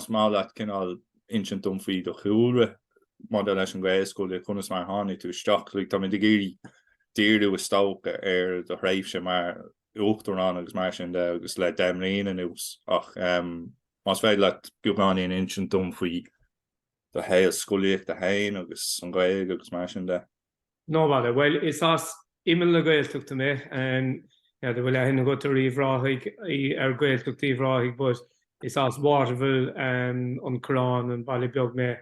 Is maith leat cineál insint dom faoi do chúlra maidir leis an Ghaelscolaíocht conas mar a tháinig tú isteach. Like táimid ag iarraidh díriú is dócha ar do thréimhse mar Uachtarán agus mar sin de agus le deich mbliana anuas ach más féidir leat beagáinín a insint dom faoi do shaol scolaíochta féin agus an Ghaeilge agus mar sin de. No bother. Bhuel, is as imeall na Gaeltachta mé. N'fheadar an bhfuil aithne agat ar Uíbh Ráthaigh, ar Gaeltacht Uíbh Ráthaigh but is as Waterville, an Coireán, an baile beag mé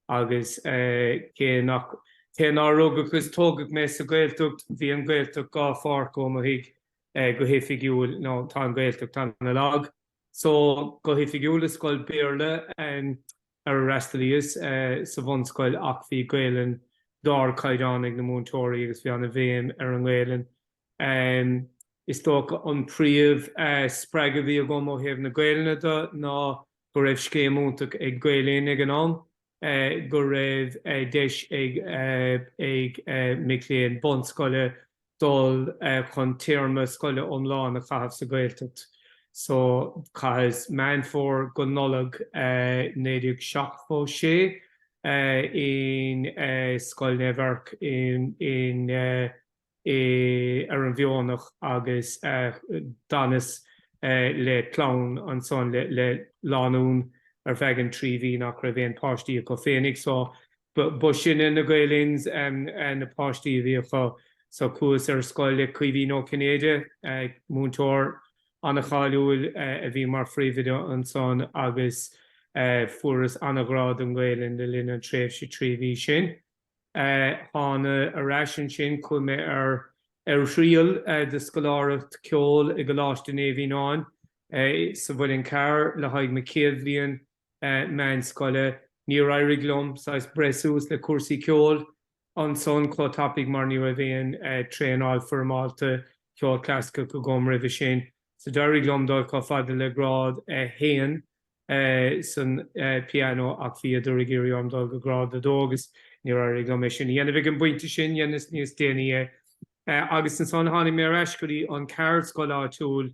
agus cé nach, cé nár rugadh is tógadh mé sa Gaeltacht, bhí an Gaeltacht dhá pháirc ó mo thigh go hoifigiúil, nó tá an Gaeltacht ana-lag. So, go hoifigiúil i scoil Béarla, ar a fhreastalaíos sa bhunscoil ach bhí Gaelainn d'ardchaighdeán ag na múinteoirí agus bhí ana bhéim ar an nGaelainn. Is dócha an príomh spreagadh a bhí agam ó thaobh na Gaelainne de ná go raibh scéim iontach ag Gael Linn ag an am go raibh deis ag mic léinn bunscoile dul chun téarma scoile iomlán a chaitheamh sa Ghaeltacht. So chaitheas Meán Fómhair go Nollaig 1976 in Scoil Naomh Eirc in ar an bhFeothanach agus d'fhanas le clann ansan, le lánúin ar feadh an trí mhí nach raibh aon páistí acu féinig. So B'shin é na Gael Linns na páistí a bhí acu. So chuas ar scoil le Caoimhín Ó Cinnéide, múinteoir an-cháiliúil a bhí mar phríomhoide ansan agus fuaireas an-ghrá don Ghaelainn le linn an tréimhse trí mhí sin. Thána ar ais ansin, chuaigh mé ar thriail do scoláireacht ceoil i gColáiste Naomh Fhíonáin sa Mhuileann Cearr le haghaidh mo chéad bhliain meánscoile. Níor éirigh liom saghas breith suas le cúrsaí ceoil ansan chomh tapaidh mar ní raibh aon traenáil foirmeálta ceoil clasaiceach agam roimhe sin. So d'éirigh liom dul chomh fada le grád a haon san pianó ach bhíodar ag iarraidh orm dul go grád a dó agus níor éirigh liom é sin a dhéanamh ag an bpointe sin, dheineas níos déanaí é. Agus ansan tháinig mé ar ais go dtí an ceardscoil áitiúil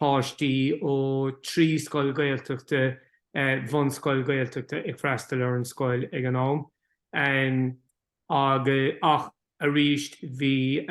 páistí ó trí scoil Ghaeltachta, bhunscoil Ghaeltachta, ag freastal ar an scoil ag an am agus, ach arís bhí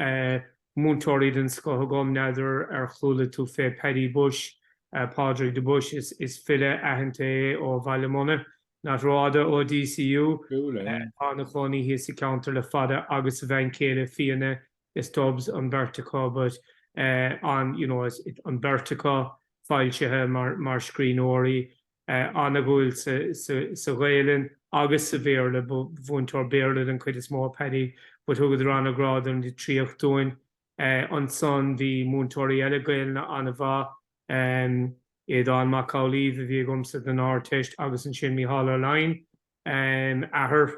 múinteoirí den scoth agam, n'fheadar ar chuala tú fé Paddy Bushe, Pádraig de Buis, is file aitheanta é ó Bhaile Munna, nach rófhada ó DCU, atá ina chónaí thíos sa cheantar le fada agus a bhean chéile Fíona is Dubs an bheirt acu but an you know is it an bheirt acu foilsithe mar mar scríbhneoirí an-dhúil sa sa Ghaelainn agus sa Bhéarla ba mhúinteoir Béarla den chuid is mó Paddy but thugadar an-ghrá don litríocht dúinn ansan bhí múinteoirí eile Gaelainne an-mhaith Aodán Mac Amhlaoibh a bhí agamsa don Ardteist agus ansin Micheál Ó Laighin athair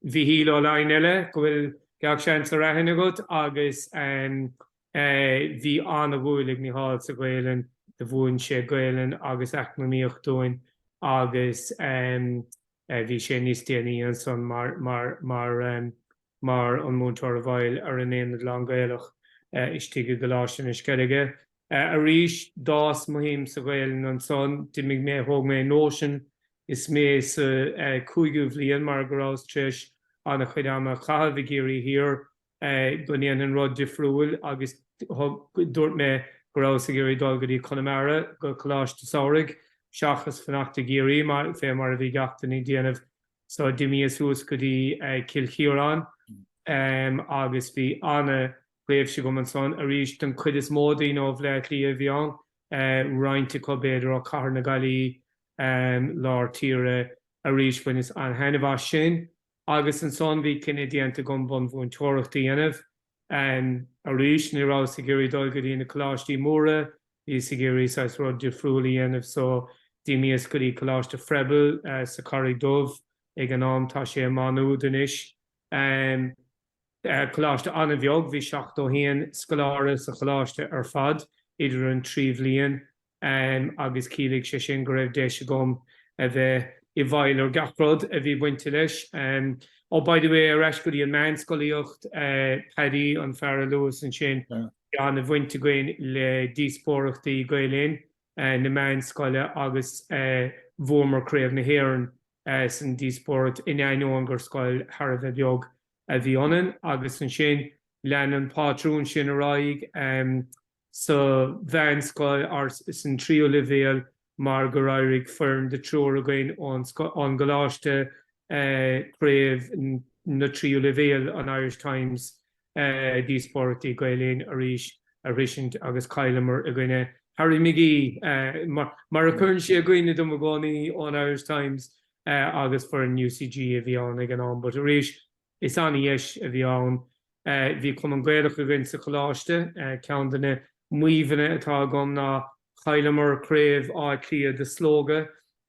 Mhichíl Ó Laighin eile, go bhfuil gach seans ar aithne agat agus bhí an-dhúil ag Micheál sa Ghaolainn, do mhúin sé Gaolainn agus Eacnamaíocht dúinn agus bhí sé níos déanaí ansan mar mar an múinteoir i bhfeighil ar an Aonad Lán-Ghaelach istigh i gColáiste na Sceilge. Arís, d'fhás mo shuim sa Ghaelainn ansan. D'imigh mé, thóg mé nóisean is mé sa chúigiú bhliain mar go rabhas tréis an-chuid ama a chaitheamh i gCiarraí Thiar, go ndéanfainn rud difriúil agus dúirt mé go rabhas ag iarraidh dul go dtí Conamara go coláiste samhraidh seachas fanacht i gCiarraí fé mar a bhí gach duine ag déanamh. So d'imíos suas go dtí Cill Chiaráin agus bhí an-thréimhse agam ansan. Arís, an chuid is mó daoine ó Bhleá Cliath a bhí ann, roinnt acu b'fhéidir ó Cathair na Gaillí, Lár Tíre. Arís, bhaineas an-thaitneamh as sin. Agus ansan bhí cinneadh déanta agam bunmhúinteoireacht a dhéanamh. Arís, ní rabhas ag iarraidh dul go dtí na coláistí móra, bhíos ag iarraidh saghas rud difriúil a dhéanamh so d'imíos go dtí Coláiste Froebel sa Charraig Dubh ag an am, tá sé i Maigh Nuad anois. Coláiste an-bheag, bhí 71 scoláire sa choláiste ar fad idir an trí bhliain agus chiallaigh sé sin go raibh deis agam a bheith i bhfeighil ar gach rud a bhí bainte leis. Oh, by the way, ar ais go dtí an meánscolaíocht, Paddy, an fear a luas ansin, an-bhaint againn le díospóireachtaí Gael Linn na meánscoile agus bhuamar Craobh na hÉireann san díospóireacht in ainneoin gur scoil thar a bheith beag a bhí ionainn agus ansin lean an pátrún sin ar aghaidh. sa mheánscoil or san tríú leibhéal mar gur éirigh foireann de triúr againn ón gcoláiste craobh na tríú leibhéal an Irish Times díospóireachtaí Gael Linn arís a shroisint agus chailleamar i gcoinne Harry McGee mar a chuireann sé i gcuimhne dom i gcónaí ón Irish Times agus foireann UCG a bhí ann ag an am but arís Is an-deis a bhí ann. Bhí Cumann Gaelach againn sa choláiste. Ceann de na maíomhanna atá agam ná chailleamar craobh Átha Cliath de Slógadh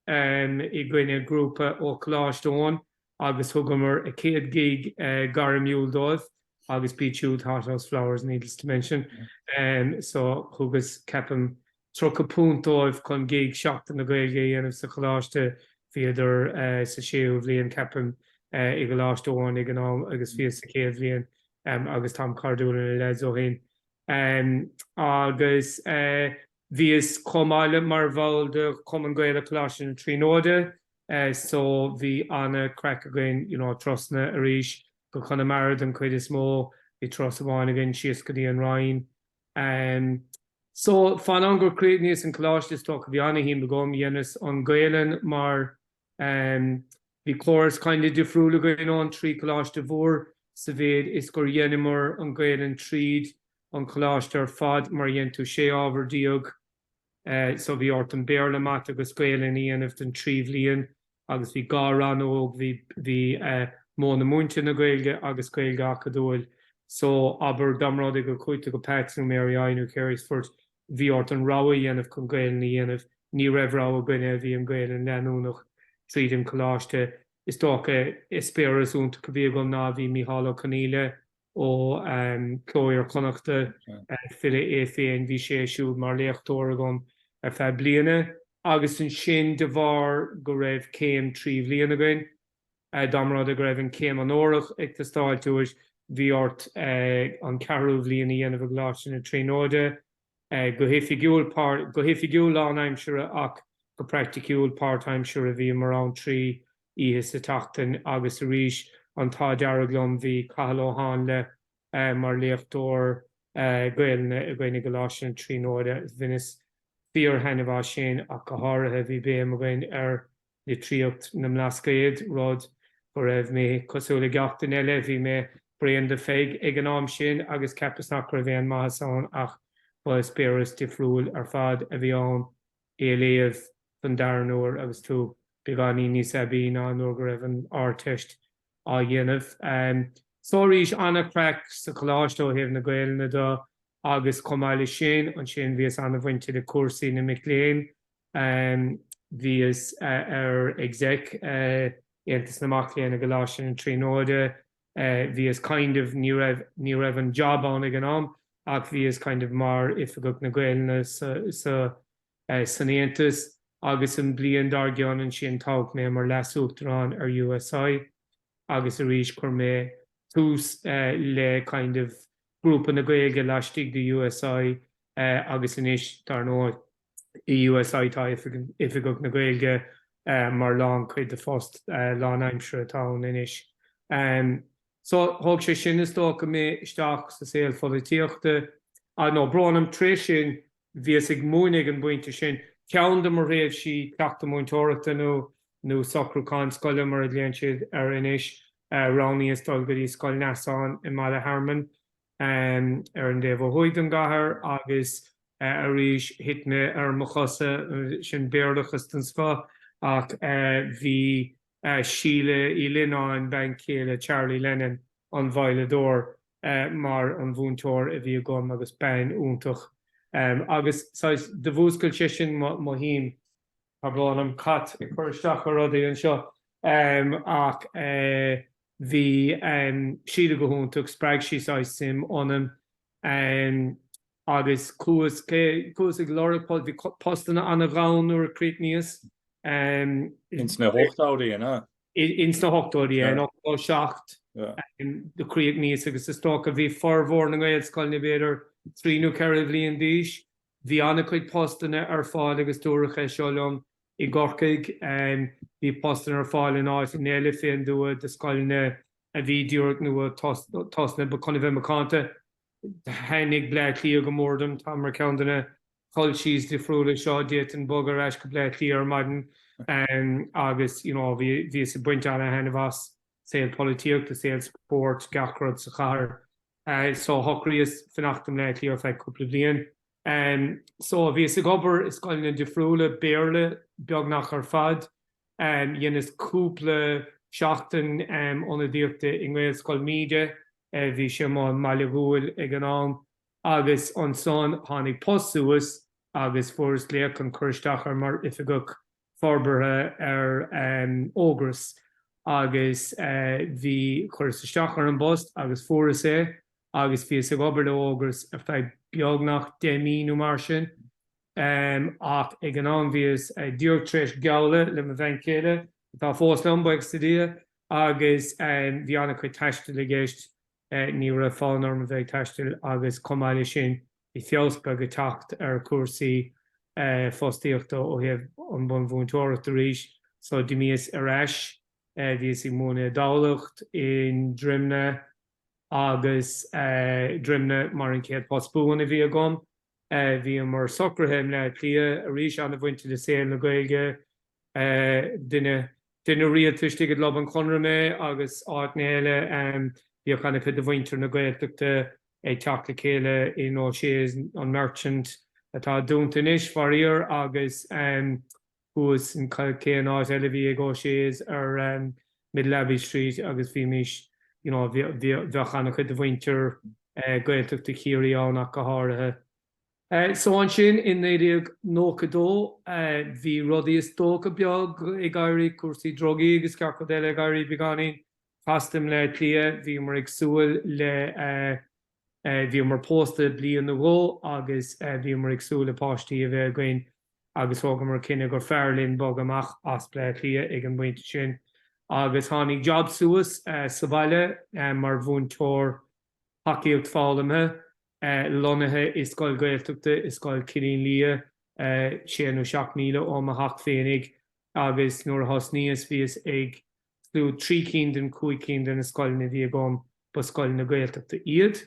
i gcoinne grúpa ó Choláiste Eoin agus thugamar a céad gig gairmiúil dóibh agus b'iad siúd Hothouse Flowers, needless to mention. So, thugas, ceapaim, £30 dóibh chun gig Sheachtain na Gaeilge a dhéanamh sa choláiste. Bhíodar sa séú bhliain, ceapaim, i gColáiste Eoin ag an am agus bhíos sa chéad bhliain agus táim cairdiúil le na leaids ó shin. Agus bhíos chomh maith le mar bhall de Chumann Gaelach Choláiste na Tríonóide so bhí ana-chraic againn. You know, turasanna arís go Conamara den chuid is mó. Bhí turas amháin againn síos go dtí an Rinn. Em so, fén am gur críochnaíos an coláiste is dócha, bhí an-shuim agam, dheineas an Gaelainn mar bhí córas kinda difriúil againn ón trí coláiste mhór sa mhéid is gur dheineamar an Gaelainn tríd an choláiste ar fad mar dhein tú sé ábhar déag so bhí ort an Béarla, Mata agus Gaelainn a dhéanamh den trí bhliain agus bhí dhá rannóg, bhí bhí eh modhanna múinte na Gaeilge agus Gaeilge Acadúil. So abair dá mba rud é go gcuaigh tú go Pats nó Mary I nó Carysfort, bhí ort an rogha a dhéanamh chun Gaelainn a dhéanamh, ní raibh rogha againne, bhí an Gaelainn leanúnach tríd an coláiste. Is dócha eispéireas iontach a bhí agam ná bhí Micheál Ó Conghaile, ó Chló Iar-Chonnachta, file é féin. Bhí sé siúd mar léachtóir agam ar feadh bliana agus ansin de bharr go raibh céim trí bhliain againn, dá mba rud go raibh an céim onórach ag teastáilt uait, bhí ort an ceathrú bhliain a dhéanamh i gColáiste na Tríonóide. go hoifigiúil go hoifigiúil lánaimseartha ach go praiticiúil páirtaimseartha bhíomar ann trí oíche sa tseachtain agus arís an t-ádh dearg liom bhí Cathal Ó Háinle mar léachtóir Gaelainne againn i gColáiste na Tríonóide agus bhaineas fíor thaitneamh as sin ach go háirithe bhí béim againn ar litríocht na mBlascaod, rud go raibh mé cosúil le gach duine eile. Bhí mé bréan de Pheig ag an am sin agus cheapas nach raibh aon maitheas ann ach ba eispéireas difriúil ar fad a bhí ann í a léamh don dara huair agus tú beagáinín níos aibí ná nuair go raibh an Ardteist á dhéanamh. So arís an-chraic sa choláiste ó thaobh na Gaelainne do agus chomh maith le sin, ansin, bhíos an-bhainte le cúrsaí na mic léinn Bhíos ar exec Aontas na Mac Léinn i gColáiste na Tríonóide. Bhíos kind of, ní raibh an job ann ag an am ach bhíos kind of mar Oifigeach na Gaeilge sa, san Aontas agus an bhliain dár gcionn ansin toghadh mé mar Leas-Uachtarán ar USI agus arís chuir mé tús le kind of grúpa na Gaeilge laistigh de USI agus anois dar ndóigh. i USI tá Oifigeach na Gaeilge mar lán chuid de phost lán aimsire atá ann anois. So thóg sé sin is dócha mé isteach sa saol pholaitíochta. Nó, brón orm, tar éis sin bhíos ag múineadh ag an bpointe sin. Ceann de mo thréimhsí cleachtadh múinteoireachta nó nó socrúchán scoile mar a ghlaonn siad air anois, roghnaíos dul go dtí Scoil Neasáin i mBaile Hearmann. ar an dtaobh ó thuaidh don gcathair agus arís thit mé ar mo chosa, sin béarlachas den scoth ach bhí Síle Uí Lionnáin, bean chéile Charlie Lennon, an veidhleadóir, mar an mhúinteoir a bhí agam agus bean iontach agus saghas, do mhúscail sé sin mo shuim. Tá brón orm, an cat ag cur isteach ar rudaí anseo ach bhí siad go hiontach, spreag sí saghas suim ionam agus chuas chuas ag lorg, bhí postanna an-ghann nuair a chríochnaíos. Ins na hochtóidí an ea? Ins na hochtóidí, in ochtó a seacht do chríochnaíos agus is dócha bhí formhór na nGaelscoileanna b'fhéidir trí nó ceithre bhliain d'aois. Bhí an-chuid postanna ar fáil agus dúradh é seo liom i gCorcaigh. Bhí postanna ar fáil in áiteanna eile fé an dtuath do scoileanna a bhí díreach nua tosnaithe ach chun a bheith macánta thaitnigh Bleá Cliath go mór dom. Táim ar cheann de na culchies difriúla seo. D'fhéadfainn bog ar ais go Bleá Cliath ar maidin agus you know bhíos ag baint an-thaitneamh as. saol polaitíochta, saol spóirt, gach rud sa chathair. So shocraíos fanacht i mBleá Cliath ar feadh cúpla bliain. So bhíos ag obair i scoileanna difriúla, Béarla beagnach ar fad. Dheineas cúpla seachtain ionadaíochta i nGaelscoil Míde, bhí sé i mBaile Dhúill ag an am. Agus ansan tháinig post suas agus fuaireas glaoch chun cur isteach air mar oifigeach forbartha ar Ógras agus bhí, chuireas isteach ar an bpost agus fuaireas é agus bhíos ag obair le Ógras ar feadh beagnach deich mí nó mar sin. Ach ag an am bhíos díreach tar éis geallta le mo bhean chéile, atá fós liom, buíochas le Dia, agus bhí an-chuid taistil i gceist, ní raibh fonn orm a bheith ag taistil agus chomh maith le sin Bhí feabhas beag ag teacht ar chúrsaí fostaíochta ó thaobh an bhunmhúinteoireachta arís so d'imíos ar ais, bhíos ag múineadh i dTamhlacht, i nDroimne agus Droimne mar an chéad post buan a bhí agam. Bhíomar socraithe i mBleá Cliath arís, ana-bhainte le saol na Gaeilge Duine, duine rialta istigh i gClub an Chonradh mé agus áiteanna eile. Bhíodh ana chuid de mhuintir na Gaeltachta ag teacht le chéile in O'Shea's, an Merchant, atá dúnta anois, faraor, agus thuas in, cén áit eile a bhí ag O'Shea's ar Middle Abbey Street agus bhímís, you know, bheadh ana chuid de mhuintir Gaeltachta Chiarraí ann ach go háirithe. So ansin i 1992 bhí rudaí is dócha beag ag éirí, cúrsaí drugaí agus gach rud eile ag éirí beagáinín casta i mBleá Cliath. Bhíomar ag súil le, bhíomar pósta bliain nó dhó agus bhíomar ag súil le páistí a bheith againn agus thógamar cinneadh gur fearr linn bogadh amach as Bleá Cliath ag an bpointe sin. Agus tháinig job suas sa bhaile mar mhúinteoir tacaíocht foghlamtha. lonnaithe i scoil Ghaeltachta i Scoil Chillín Liath, sé nó seacht míle ó mo theach féinig, agus nuair a thosnaíos, bhíos ag, slua, trí cinn den chúig cinn de na scoileanna a bhí agam, ba scoileanna Gaeltachta iad.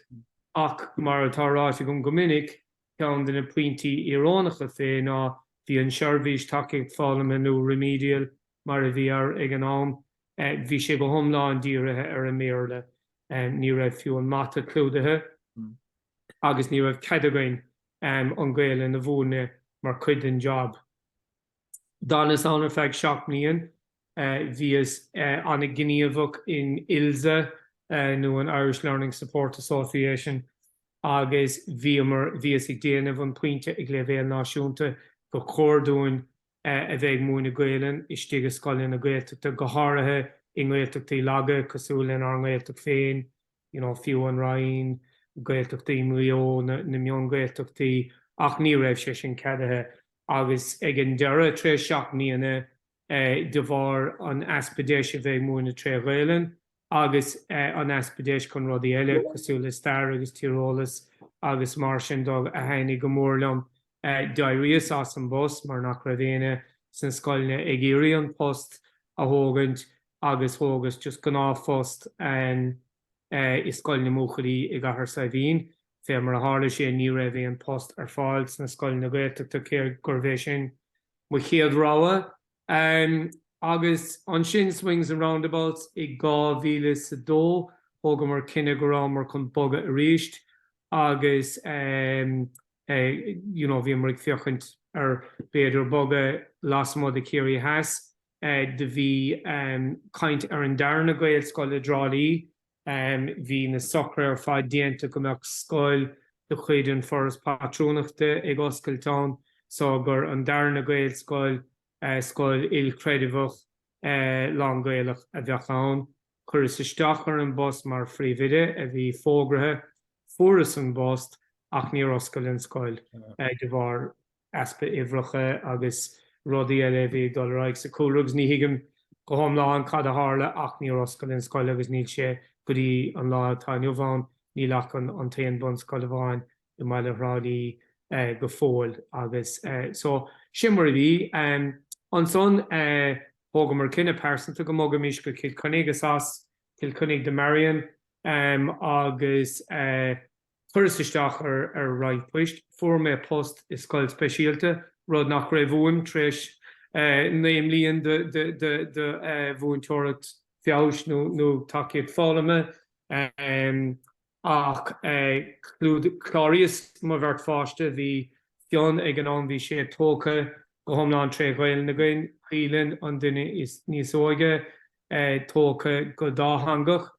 Ach, mar atá ráite agam go minic, ceann de na pointí íorónacha fé ná, bhí an seirbhís tacaíocht foghlamtha nó remedial mar a bhí air ag an am, bhí sé go hiomlán dírithe ar an mBéarla. Ní raibh fiú an mata clúdaithe agus ní raibh cead againn an Gaelainn a mhúineadh mar cuid den job. D'fhanas ann ar feadh seacht mbliain. Bhíos ana-ghníomhach in ILSA nó an Irish Learning Support Association agus bhíomar, bhíos ag déanamh an pointe ag leibhéal náisiúnta gur chóir dúinn, a bheith ag múineadh Gaelainn istigh i scoileanna Gaeltachta, go háirithe i nGaeltachtaí laga cosúil lenár nGaeltacht féin, you know, fiú an Rinn, Gaeltachtaí Mhaigh Eo, na mion-Ghaeltachtaí, ach ní raibh sé sin ceadaithe. Agus ag an deireadh, tar éis seacht mbliana, de bharr an easpa deis a bheith ag múineadh tré Ghaelainn, agus an easpa deis chun rudaí eile cosúil le stair agus tíreolas agus mar sin de a thaitnigh go mór liom. D'éiríos as an bpost mar nach raibh éinne sna scoileanna ag iarraidh an post a thógaint agus thógas just gnáthphost i Scoil na mBuachaillí i gCathair Saidhbhín. Fé mar a tharla sé ní raibh aon post ar fáil sna scoileanna Gaeltachta cé gurbh é sin mo chéad rogha. Um agus ansin swings and roundabouts i dhá mhíle 's a dó thógamar cinneadh go rabhamar chun bogadh arís agus um eh you know bhíomar ag féachaint ar b'fhéidir bogadh lasmuigh de Chiarraí Theas eh do bhí um caint ar an darna Gaelscoil i dTrá Lí Bhí na socruithe ar fad déanta go mbeadh scoil de chuid An Foras Pátrúnachta ag oscailt ann so gurb í an darna Gaelscoil, scoil ilchreidmheach, lán Gaelach a bheadh ann. Chuireas isteach ar an bpost mar Phríomhoide a bhí fógraithe. Fuaireas an bpost ach níor oscail an scoil de bharr. easpa uimhreacha agus rudaí eile a bhí ag dul ar aghaidh sa cúlra agus ní thuigim go hiomlán cad a tharla ach níor oscail an scoil agus níl sé go dtí an lá atá inniu ann. Níl ach an t-aon bunscoil amháin i mBaile Thrá Lí go fóill agus so sin mar a bhí. Ansan thógamar cinneadh pearsanta go mbogfaimis go Cill Chainnigh is as Cill Chainnigh do Marion agus Chuireas isteach ar ar roinnt poist. Fuair mé post i scoil speisialta, rud nach raibh uaim tar éis naoi mbliain de mhúinteoireacht feabhais nó tacaíocht foghlama. Ach cláraíos mo bheirt pháiste. Bhí Fionn ag an am, bhí sé tógtha go hiomlán tré Ghaelainn againn, Caoilinn, an duine níos óige, tógtha go dátheangach.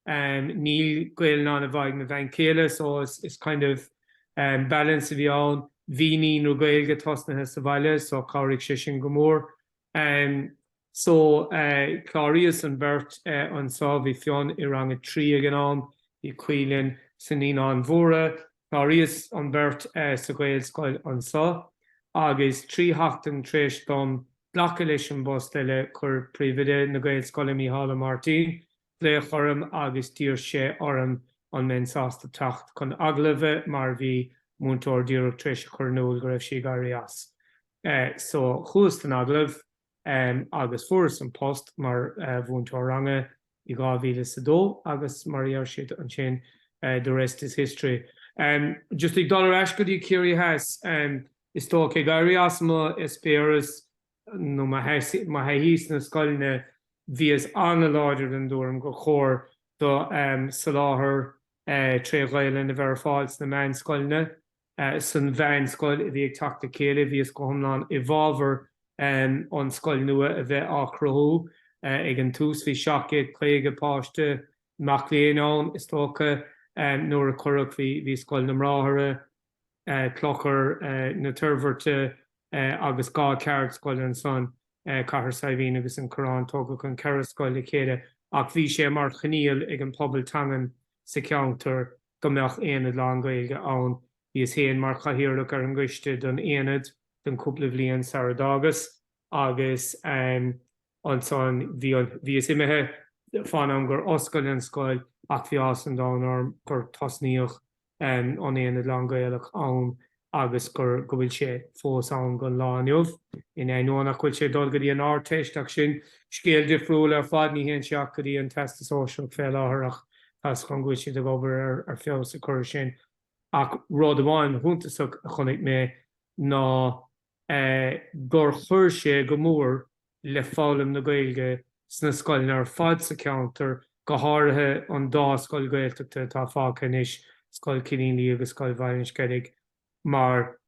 níl Gaelainn ag mo bhean chéile so is kind of balance a bhí ann. Bhí naíonra Gaeilge tosnaithe sa bhaile so chabhraigh sé sin go mór. So chláraíos an bheirt anseo, bhí Fionn i rang a trí ag an am, bhí Caoilinn sna Naíonáin Mhóra. Chláraíos an bheirt sa Ghaelscoil anseo agus trí sheachtain tar éis dom glacadh leis an bpost eile chuir Príomhoide na Gaelscoile, Mícheál Ó Máirtín, Glaodh orm agus d'iarr sé orm an mbeinn sásta teacht chun agallaimh mar bhí múinteoir díreach tar éis a chur in iúl go raibh sí ag éirí as. So chuas don agallamh agus fuaireas an post mar mhúinteoir ranga i 2002 agus mar a dheir siad ansin the rest is history. Just ag dul ar ais go dtí Ciarraí Theas is dócha, ag éirí as mo eispéireas nó mo thaithí sna scoileanna, bhíos an-láidir den dtuairim gur chóir do soláthar tré Ghaelainn a bheith ar fáil sna meánscoileanna. San mheánscoil a bhí ag teacht le chéile, bhíos go hiomlán i bhfábhar an scoil nua a bheith á chruthú. Ag an tús bhí 750 páiste, mac léinn ann, is dócha, nuair a cuireadh, bhí Scoil na mBráithre, Clochar na Toirbhirte agus dhá cheardscoil ansan, Cathair Saidhbhín agus an Coireán. Tógadh an ceithre scoil le chéile ach bhí sé mar choinníoll ag an pobal teangan sa cheantar go mbeadh aonad lán-Ghaeilge ann. Bhíos féin mar chathaoirleach ar an gcoiste don aonad don cúpla bhliain sara d'fhágas agus ansan bhí an, bhíos imithe fán am gur oscail an scoil ach bhí áthas an domhain orm gur tosnaíodh an aonad lán-Gaelach ann agus gur, go bhfuil sé fós ann gon lá inniu. In ainneoin nach bhfuil sé dul go dtí an Ardteist ach sin scéal difriúil ar fad, ní théann sé ach go dtí an Teastas Sóisearach fé láthair ach tá's agam go bhfuil siad ag obair ar ar feabhas a cur ar sin. Ach rud amháin shuntasach a chonaic mé ná, gur chuir sé go mór le foghlaim na Gaeilge sna scoileanna ar fad sa cheantar, go háirithe an dá scoil Ghaeltachta atá fágtha anois, Scoil Cillín Liath agus Scoil Bhaile an Sceilg, mar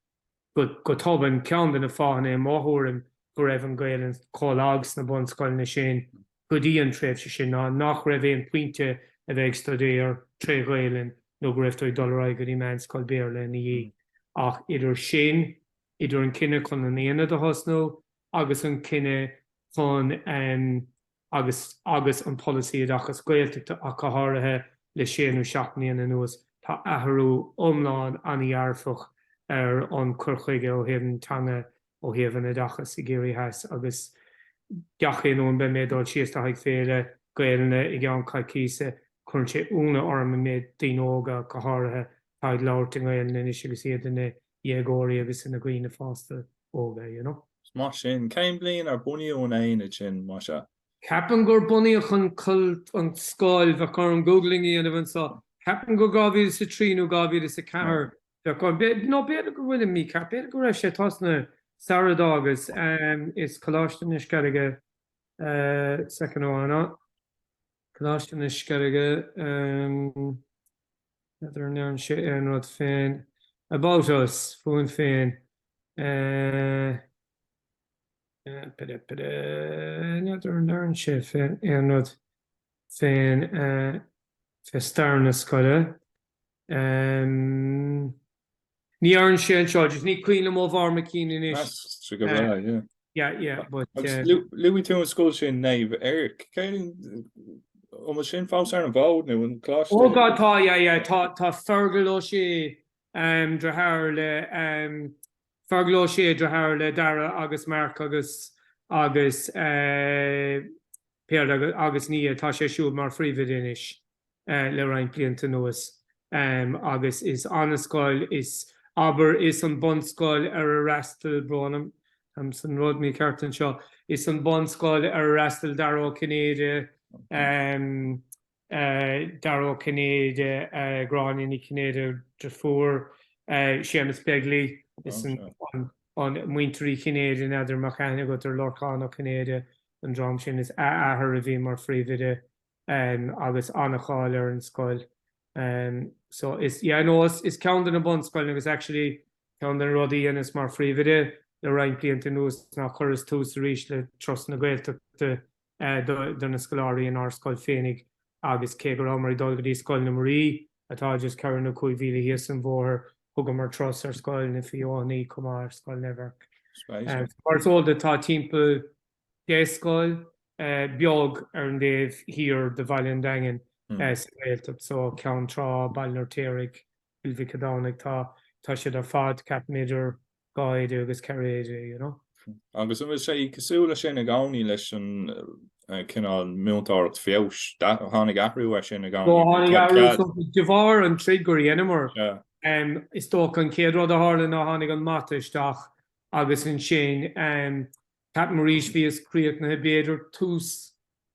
go tobann, ceann de na fáthanna i mo thuairim go raibh an Gaelainn chomh lag sna bunscoileanna sin go dtí an tréimhse sin ná nach raibh aon phointe a bheith ag stuidéar tré Ghaelainn nó go raibh tú ag dul ar aghaidh go dtí meánscoil Béarla ina dhiaidh. Ach idir sin, idir an cinneadh chun an aonad a thosnú agus an cinneadh chun ehm agus agus an polasaí oideachas Gaeltachta ach go háirithe le sé nó seacht mbliana anuas, tá athrú iomlán ana-dhearfach ar an cur chuige ó thaobh na teanga ó thaobh an oideachas i gCiarraí Theas agus gach aon uair, beidh mé ag dul síos le haghaidh féile Gaelainne i gceann coicíse cuireann sé ionadh orm an méid daoine óga ach go háirithe atá ag labhairt i nGaelainn anois agus iad ina dhéagóirí agus ina dhaoine fásta óga, you know. Is maith sin. Cén bhliain ar bunaíodh an aonad sin, más ea? Ceapaim gur bunaíodh an an scoil, bheadh orm googling a dhéanamh anseo, ceapaim gur 2003 nó 2004 nó b'fhéidir go bhfuilim mícheart, b'fhéidir go raibh sé ag tosnú sara d'fhágas is Coláiste na Sceilge second amháin, Coláiste na Sceilge n'fheadar an ndeireann sé aon rud féin About Us fúinn féin b'fhéidir n'fheadar an ndeireann sé féin aon rud féin fé stair na scoile. Ní dheireann sé anseo, just ní cuimhin liom ó bharr mo chinn anois. Tá sé go breá, yeah. Yeah, yeah, but. Agus luaigh tú an scoil sin, Naomh Eirc. An bhfuil sin fós ar an bhfód nó an coláiste? Oh God, tá, yeah, yeah, tá Feargal Ó Sé, um, deartháir le, um, Feargal Ó Sé deartháir le Dara agus Marc agus agus Peadar agus Nia. Tá sé siúd mar phríomhoide anois le roinnt blianta anuas agus is ana scoil is, abair, is an bunscoil ar a fhreastail, brón orm, táim san rud mícheart anseo, is an bunscoil ar a fhreastail Dara Ó Cinnéide. Dara Ó Cinnéide, Gráinne Ní Chinnéide, deirfiúr Séamus Begley, is an Muintir Uí Chinnéide, n'fheadar, an mbeadh aithne agat ar Lorcán Ó Cinnéide, an dream sin, is a athair a bhí mar phríomhoide agus ana-cháil ar an scoil. So is, yeah, no, is ceann de na bunscoileanna agus actually ceann de na rudaí a dheineas mar phríomhoide le roinnt blianta anuas ná chuireas tús arís le Turas na Gaeltachta do na scoláirí in ár scoil féinig agus cé go rabhamar ag dul go dtí Scoil na Muirí atá just ceithre nó cúig mhíle thíos an bhóthar, thugamar turas ar Scoil na Feothanaí chomh maith, ar Scoil Naomh Eirc. Mar is eol duit tá timpeall deich scoil beag ar an dtaobh thiar de Bhaile an Daingin sa Ghaeltacht so, Ceann Trá, Baile an Fheirtéaraigh, Cill Mhic an Domhnaigh, tá siad ar fad, ceapaim, idir. dhá oide agus ceithre oide, you know. Agus an bhfuil sé cosúil leis sin i gcónaí leis an cineál múinteoireacht feabhais? Tháinig athrú air sin i gcónaí? Ó tháinig athrú, de bharr an troid gur dheineamar, is dócha an chéad rud a tharla ná tháinig an mata isteach agus ansin ceapaim arís bhíos críochnaithe b'fhéidir tús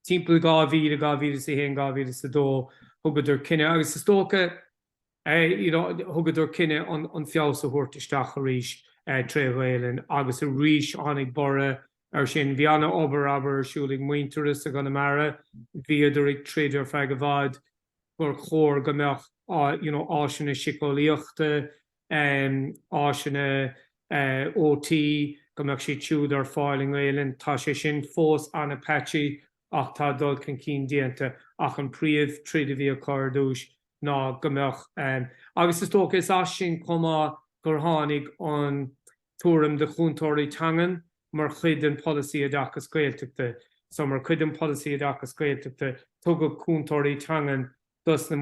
timpeall 2000, 2001, 2002 thugadar cinneadh agus is dócha you know thugadar cinneadh an an feabhas a thabhairt isteach arís tré Ghaelainn agus arís tháinig borradh ar sin. Bhí ana obair abair ar siúl ag Muintearas i gConamara, bhíodar ag troid ar feadh i bhfad gur chóir go mbeadh you know áiseanna siceolaíochta, em áiseanna eh OT go mbeadh siad siúd ar fáil i nGaelainn. Tá sé sin fós ana patchy ach tá dul chun cinn déanta ach an príomh troid a bhí acu ar dtúis ná go mbeadh. Agus is dócha is as sin chomh maith gur tháinig an tuairim de chúntóirí teangan mar chuid den Polasaí Oideachas Gaeltachta. So mar chuid den Polasaí Oideachas Gaeltachta tugadh cúntóirí teangan dos na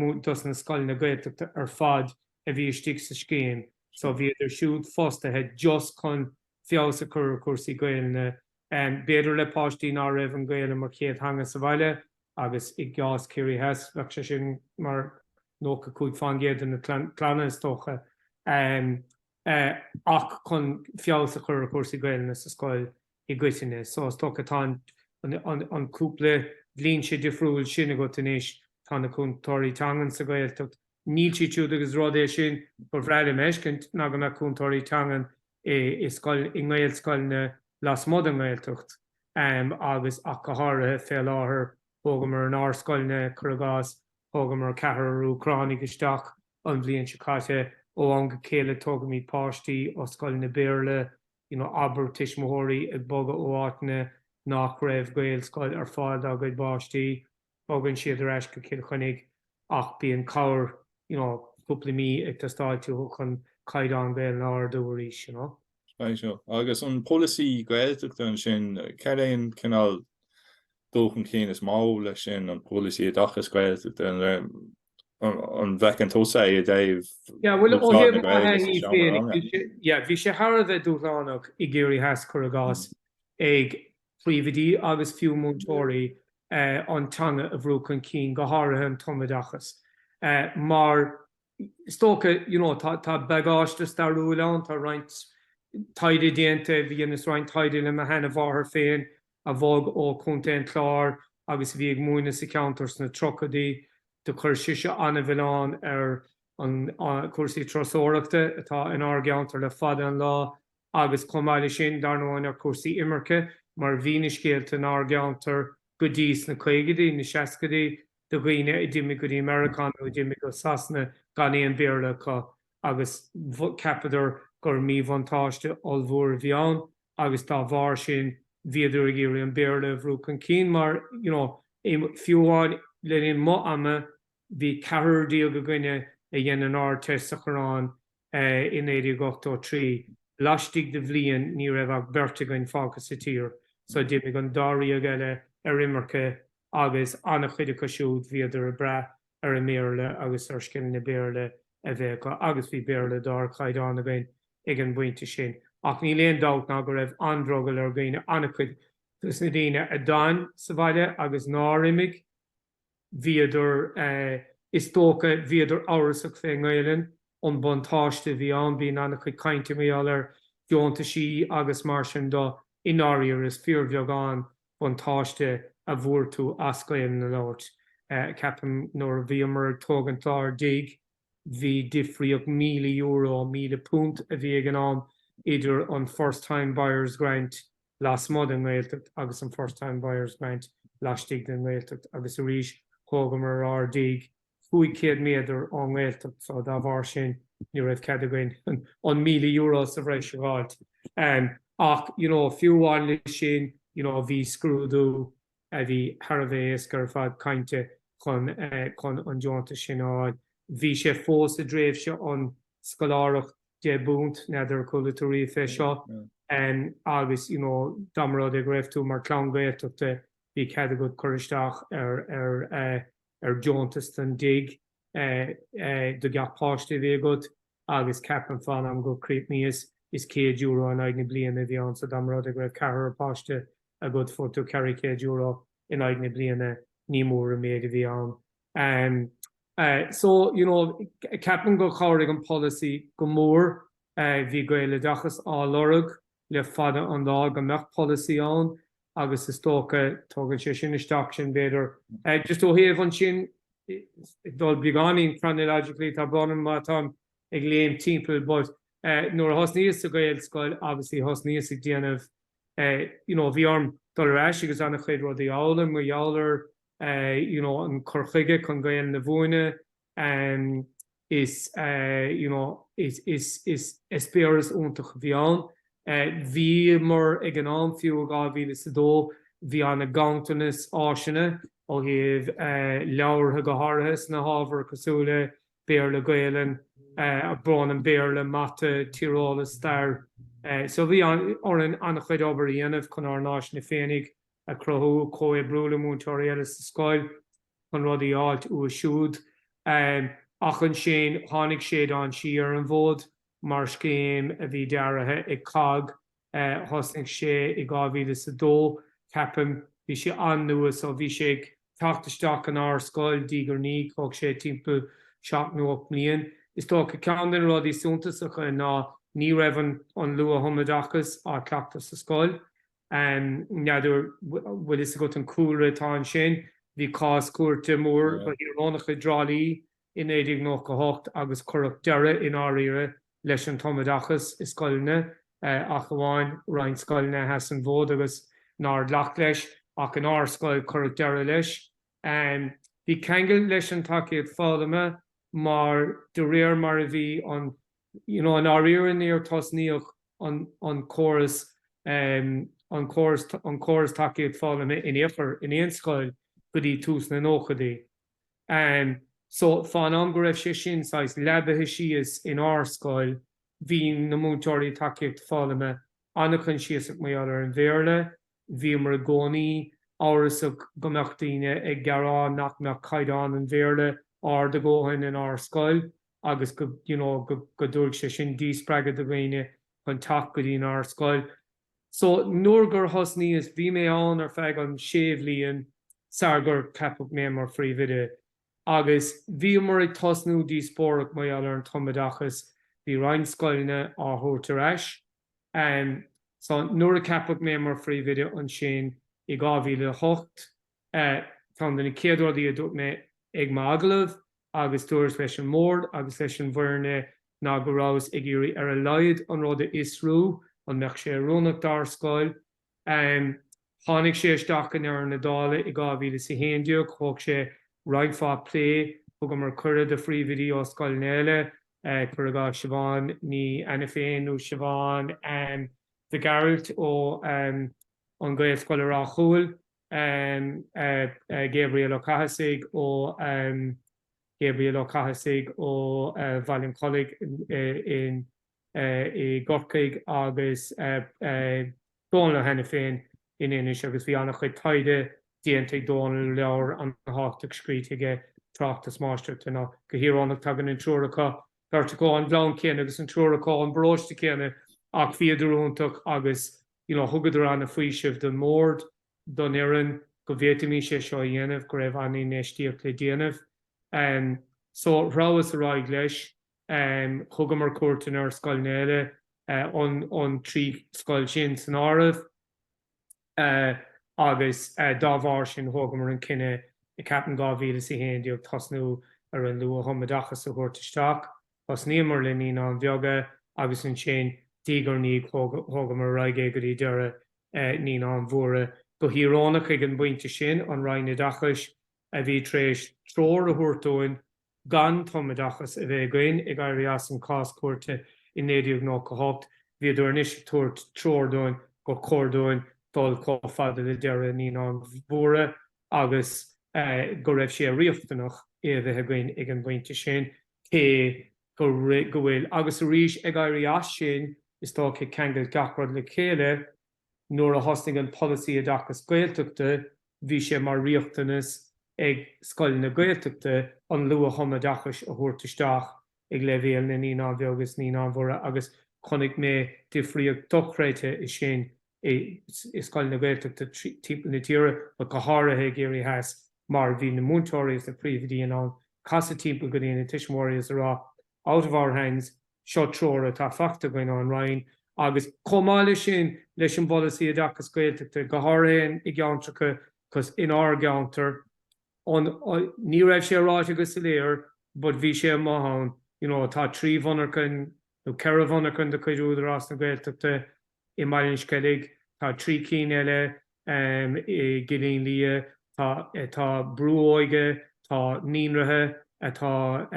scoileanna Gaeltachta ar fad a bhí istigh sa scéim. So bhíodar siúd fostaithe just chun feabhas a chur ar chúrsaí Gaelainne. B'fhéidir le páistí ná raibh an Gaelainn mar chéad theanga sa bhaile agus i gcás Ciarraí Theas bheadh sé sin mar 95 fán gcéad de na clanna is dócha. Ach chun feabhas a chur ar chúrsaí Gaelainne sa scoil i gcoitinne. So is dócha tá an cúpla dlínse difriúil sin agat anois, tá na cúntóirí teangan sa Ghaeltacht, níl siad siúd agus rud é sin ba bhreá liom a fheiscint ná go mbeadh cúntóirí teangan i scoil, i nGaelscoileanna lasmuigh den nGaeltacht. agus ach go háirithe fé láthair. Thógamar in ár scoileanna, cuir i gcás, thógamar ceathrar Úcránaigh isteach an bhliain seo caite. Ó am go chéile tógaimid páistí ó scoileanna Béarla, you know, abair tuismitheoirí ag bogadh ó áiteanna nach raibh Gaelscoil ar fáil dá gcuid páistí. Bogann siad ar ais go Cill Chainnigh ach bíonn cabhair, you know, cúpla mí ag teastáil uathu chun caighdeán Gaelainne a ardú arís, you know. Right o. Agus an polasaí Gaeltachta ansin, cad é an cineál dul chun cinn is mó leis sin, an polasaí oideachais Ghaeltachta, an bhfeiceann tusa é i dtaobh Yeah, bhuel, ó thaobh na Gaeilge sa seomra ranga? Yeah, bhí sé thar a bheith dúshlánach i gCiarraí Theas cuir i gcás ag príomhoidí agus fiú múinteoirí an teanga a bhrú chun cinn, go háirithe an tumoideachas. Mar is dócha you know tá bagáiste stairiúil ann, tá roinnt taighde déanta, dheineas roinnt taighde le mo sheanamháthair féin a bhog ó Chontae an Chláir agus a bhí ag múineadh sa cheantar sna tríochaidí. Do chuir sise an-mhilleán ar na cúrsaí turasóireachta atá in ár gceantar le fada an lá. agus chomh maith leis sin, dar ndóigh, ar cúrsaí imirce, mar bhí na scéalta in ár gceantar go dtí sna caogaidí, na seascaidí, de dhaoine a d'imigh go dtí Meiriceá nó a d'imigh go Sasana gan aon Béarla acu agus cheapadar gur míbhuntáiste ollmhór a bhí ann agus dá bharr sin, bhíodar ag iarraidh an Béarla a bhrú chun cinn mar, you know, fiú amháin le linn mo ama, bhí ceathrar déag againne a dhein an Ardteist sa Choireán i 1983. Laistigh de bhliain ní raibh ach beirt againn fágtha sa tír, so d'imigh an dáréag eile ar imirce agus an-chuid acu siúd bhíodar ag brath ar an mBéarla agus ar scileanna Béarla a bheith acu agus bhí Béarla d'ardchaighdeán againn ag an bpointe sin. Ach níl aon dabht ná go raibh an-drogall ar dhaoine, an-chuid dos na daoine a d'fhan sa bhaile agus nár imigh, bhíodar, is dócha, bhíodar amhrasach fé nGaelainn, an buntáiste a bhí ann, bhíodh an-chuid cainte mar gheall ar dheontaisí agus mar sin de, i ndáiríre is fíorbheagán buntáiste a bhfuair tú as Gaelainn a labhairt. Ceapaim nuair a bhíomar ag tógaint ár dtigh, bhí difríocht míle euro, míle punt a bhí ag an am idir an First Time Buyers Grant, lasmuigh den nGaeltacht agus an First Time Buyers Grant laistigh den nGaeltacht agus arís thógamar ár dtigh cúig chéad méadar ón nGaeltacht so dá bharr sin ní raibh cead againn an míle euro sa bhreis a dh'fháilt ach you know fiú amháin le sin you know bhí scrúdú a bhí thar a bheith éasca ar fad cainte chun chun an deontas sin a fháil bhí sé fós i dtréimhse an scoláireacht deich bpunt n'fheadar ar chuala tú riamh fé seo agus you know dá mba rud é go raibh tú mar clann Gaeltachta bhí cead agat cur isteach ar ar eh ar deontas don dtigh eh eh do gach páiste a bhí agat agus ceapaim fén am gur críochnaíos is 100 euro in aghaidh na bliana a bhí ann so dá mba rud é go raibh ceathrar páiste agat fuair tú ceithre chéad euro in aghaidh na bliana ní mór an méid a bhí ann So, you know, ceapaim gur chabhraigh an polasaí go mór. Bhí Gaeloideachas á lorg le fada an lá go mbeadh polasaí ann agus is dócha tugann sé sin isteach sin b'fhéidir. Just ó thaobh ansin, dul beagáinín chronologically, tá brón orm má táim ag léim timpeall, but nuair a thosnaíos sa Ghaelscoil obviously thosnaíos ag déanamh, you know, bhí orm dul ar ais agus an-chuid rudaí a fhoghlaim, i ngeall ar you know an cur chuige chun Gaelainn a mhúineadh em is eh you know is is eispéireas iontach a bhí ann. Eh bhíomar ag an am fiú i 2002 bhí ana-ghanntanas áiseanna ó thaobh eh leabhartha go háirithe sna hábhair cosúil le Béarla, Gaelainn eh tá brón orm Béarla, Mata, Tíreolas, Stair eh so bhí orainn ana-chuid obair a dhéanamh chun ár n-áiseanna féinig a chruthú, comhoibriú le múinteoirí eile sa scoil chun rudaí a fháilt uathu siúd. Ach ansin tháinig Séideán Sí ar an bhfód mar scéim a bhí dearaithe ag COGG. Thosnaigh sé i dhá mhíle is a dó, ceapaim. Bhí sé an-nua so bhí sé ag teacht isteach in ár scoil diaidh ar ndiaidh. Thóg sé timpeall seacht nó ocht mbliain. Is dócha ceann de na rudaí suntasacha ná ní raibh an luath-thumoideachas á cleachtadh sa scoil. N'fheadar bhfuil fhios agat an cúlra atá ansin. Bhí cás cúirte mór go híorónach i dTrá Lí i 1998 agus cuireadh deireadh i ndáiríre leis an tumoideachas i scoileanna, ach amháin roinnt scoileanna a sheas an fód agus nár ghlac leis, ach in ár scoil cuireadh deireadh leis. Bhí ceangal leis an tacaíocht foghlama mar de réir mar a bhí an you know i ndáiríre níor tosnaíodh an an córas an córas an córas tacaíocht foghlama in aon chor in aon scoil go dtí tús na nóchaidí. So fén am go raibh sé sin saghas leabaithe síos in ár scoil bhí na múinteoirí tacaíochta foghlama an-choinsiasach mar gheall ar an Bhéarla, Bhíomar i gcónaí amhrasach go mbeadh daoine ag gearán nach mbeadh caighdeán an Bhéarla ard go dóthain in ár scoil agus go you know go dtabharfadh sé sin díspreagadh do dhaoine chun teacht go dtí'n ár scoil. So nuair gur thosnaíos, bhí mé ann ar feadh an sé bhliain sar gur ceapadh mé mar Phríomh Oide agus bhíomar ag tosnú díospóireacht mar gheall ar an tumoideachas. Bhí roinnt scoileanna á thabhairt ar ais So nuair a ceapadh mé mar Phríomhoide ansin i 2008. Ceann de na céad rudaí a dúirt mé ag m'agallamh agus dúras leis an mBord agus leis an bhfoirne ná go rabhas ag iarraidh ar a laghad an rud a fhiosrú, an mbeadh sé oiriúnach dár scoil? Tháinig sé isteach in aon chor dála i 2011. Thóg sé roinnt fada plé. Thugamar cuireadh do phríomhoidí ó scoileanna eile, cur i gcás Siobhán Ní Ainiféin nó Siobhán Mhic Ghearailt ó an Gaelscoil i Ráth Chúil, Gabriel Ó Cathasaigh ó Gabriel Ó Cathasaigh ó Bhaile an Chollaigh in. i gCorcaigh agus Dónall Ó hAiniféin in Inis agus bhí an-chuid taighde déanta ag Dónall, leabhar an-tábhachtach scríte aige, tráchtas máistreachta aná go híorónach tagann an triúr acu, beirt acu ón gclann céanna agus an triúr acu ón bparóiste céanna, ach bhíodar iontach agus you know thugadar an-fhaoiseamh don mbord, don fhoireann go bhféadfaimis é seo a dhéanamh, go raibh an-infheistíocht le déanamh. So threabhas ar aghaidh leis. Thugamar cuairteanna ar scoileanna eile na trí scoil sin san áireamh agus dá bharr sin thógamar an cinneadh ceapaim 2011 tosnú ar an luath-thumoideachas a thabhairt isteach. Thosnaíomar le Naíonáin Bheaga agus ansin diaidh ar ndiaidh thógamar ar aghaidh é go dtí deireadh Naíonáin Mhóra. Go híorónach ag an bpointe sin an Roinn Oideachais a bhí tar éis treoir a thabhairt dúinn gan tumoideachas a bheith againn, ag éirí as an cás cúirte i 1998, bhíodar anois ag tabhairt treoir dúinn gur chóir dúinn dul chomh fada le deireadh Naíonáin Mhóra agus go raibh sé riachtanach é a bheith againn ag an bpointe sin, cé go bhfuil, agus arís ag éirí as sin, is tá sé ceangailte, gach rud le chéile. nuair a thosnaigh an Polasaí Oideachais Gaeltachta bhí sé mar riachtanas ag scoileanna Gaeltachta an luath-thumoideachas a thabhairt isteach ag leibhéal na Naíonáin Bheaga is Naíonáin Mhóra agus chonaic mé difríocht dochreidte ansin i scoileanna Gaeltachta timpeall na tíre but go háirithe i gCiarraí Theas mar bhí na múinteoirí is na príomhoidí in ann casadh timpeall go dtí na tuismitheoirí is a rá out of our hands, Seo treoir atá faighte againn ón Roinn agus chomh maith leis sin, leis an bPolasaí Oideachais Gaeltachta, go háirithe i gceantracha, 'cause in ár gceantar, ní raibh sé ráite go soiléir but bhí sé amuigh ann, you know tá trí mhonarchain nó ceithre mhonarchain de chuid Údarás na Gaeltachta, i mBaile an Sceilg, tá trí cinn eile i gCillín Liath, tá brú óige, tá naíonraithe atá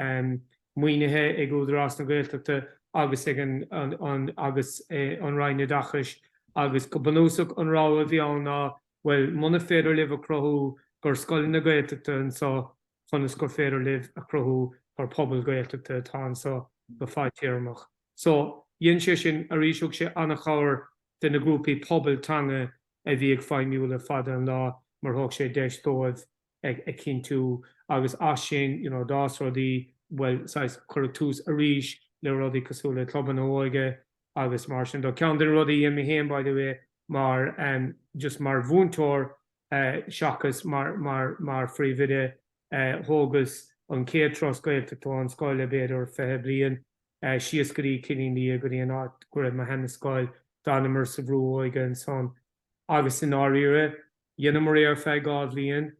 maoinithe ag Údarás na Gaeltachta agus ag an Roinn Oideachais agus go bunúsach an rogha a bhí ann ná bhuel muna féidir libh a chruthú gur scoileanna Gaeltachta anso conas gur féidir libh a chruthú gur pobal Gaeltachta atá anso go fadtéarmach. So, dhein sé sin arís, thug sé an-chabhair do na grúpaí pobail teanga a bhí ag feidhmiú le fada an lá mar thug sé deis dóibh a chinntiú agus as sin, you know, d'fhás rudaí, bhuel, saghas, cuireadh tús arís le rudaí cosúil le clubanna óige agus mar sin de. Ceann de na rudaí a dhein mé féin, by the way, mar, em, just mar mhúinteoir, seachas mar phríomhoide. Thógas an chéad turas Gaeltachta ón scoil le b'fhéidir fiche bliain, síos go dtí Cillín Liath, go dtí an áit go raibh mo sheanascoil. D'fhanamar sa bhrú óige ansan. Agus i ndáiríre, dheineamar é ar feadh dhá bhliain.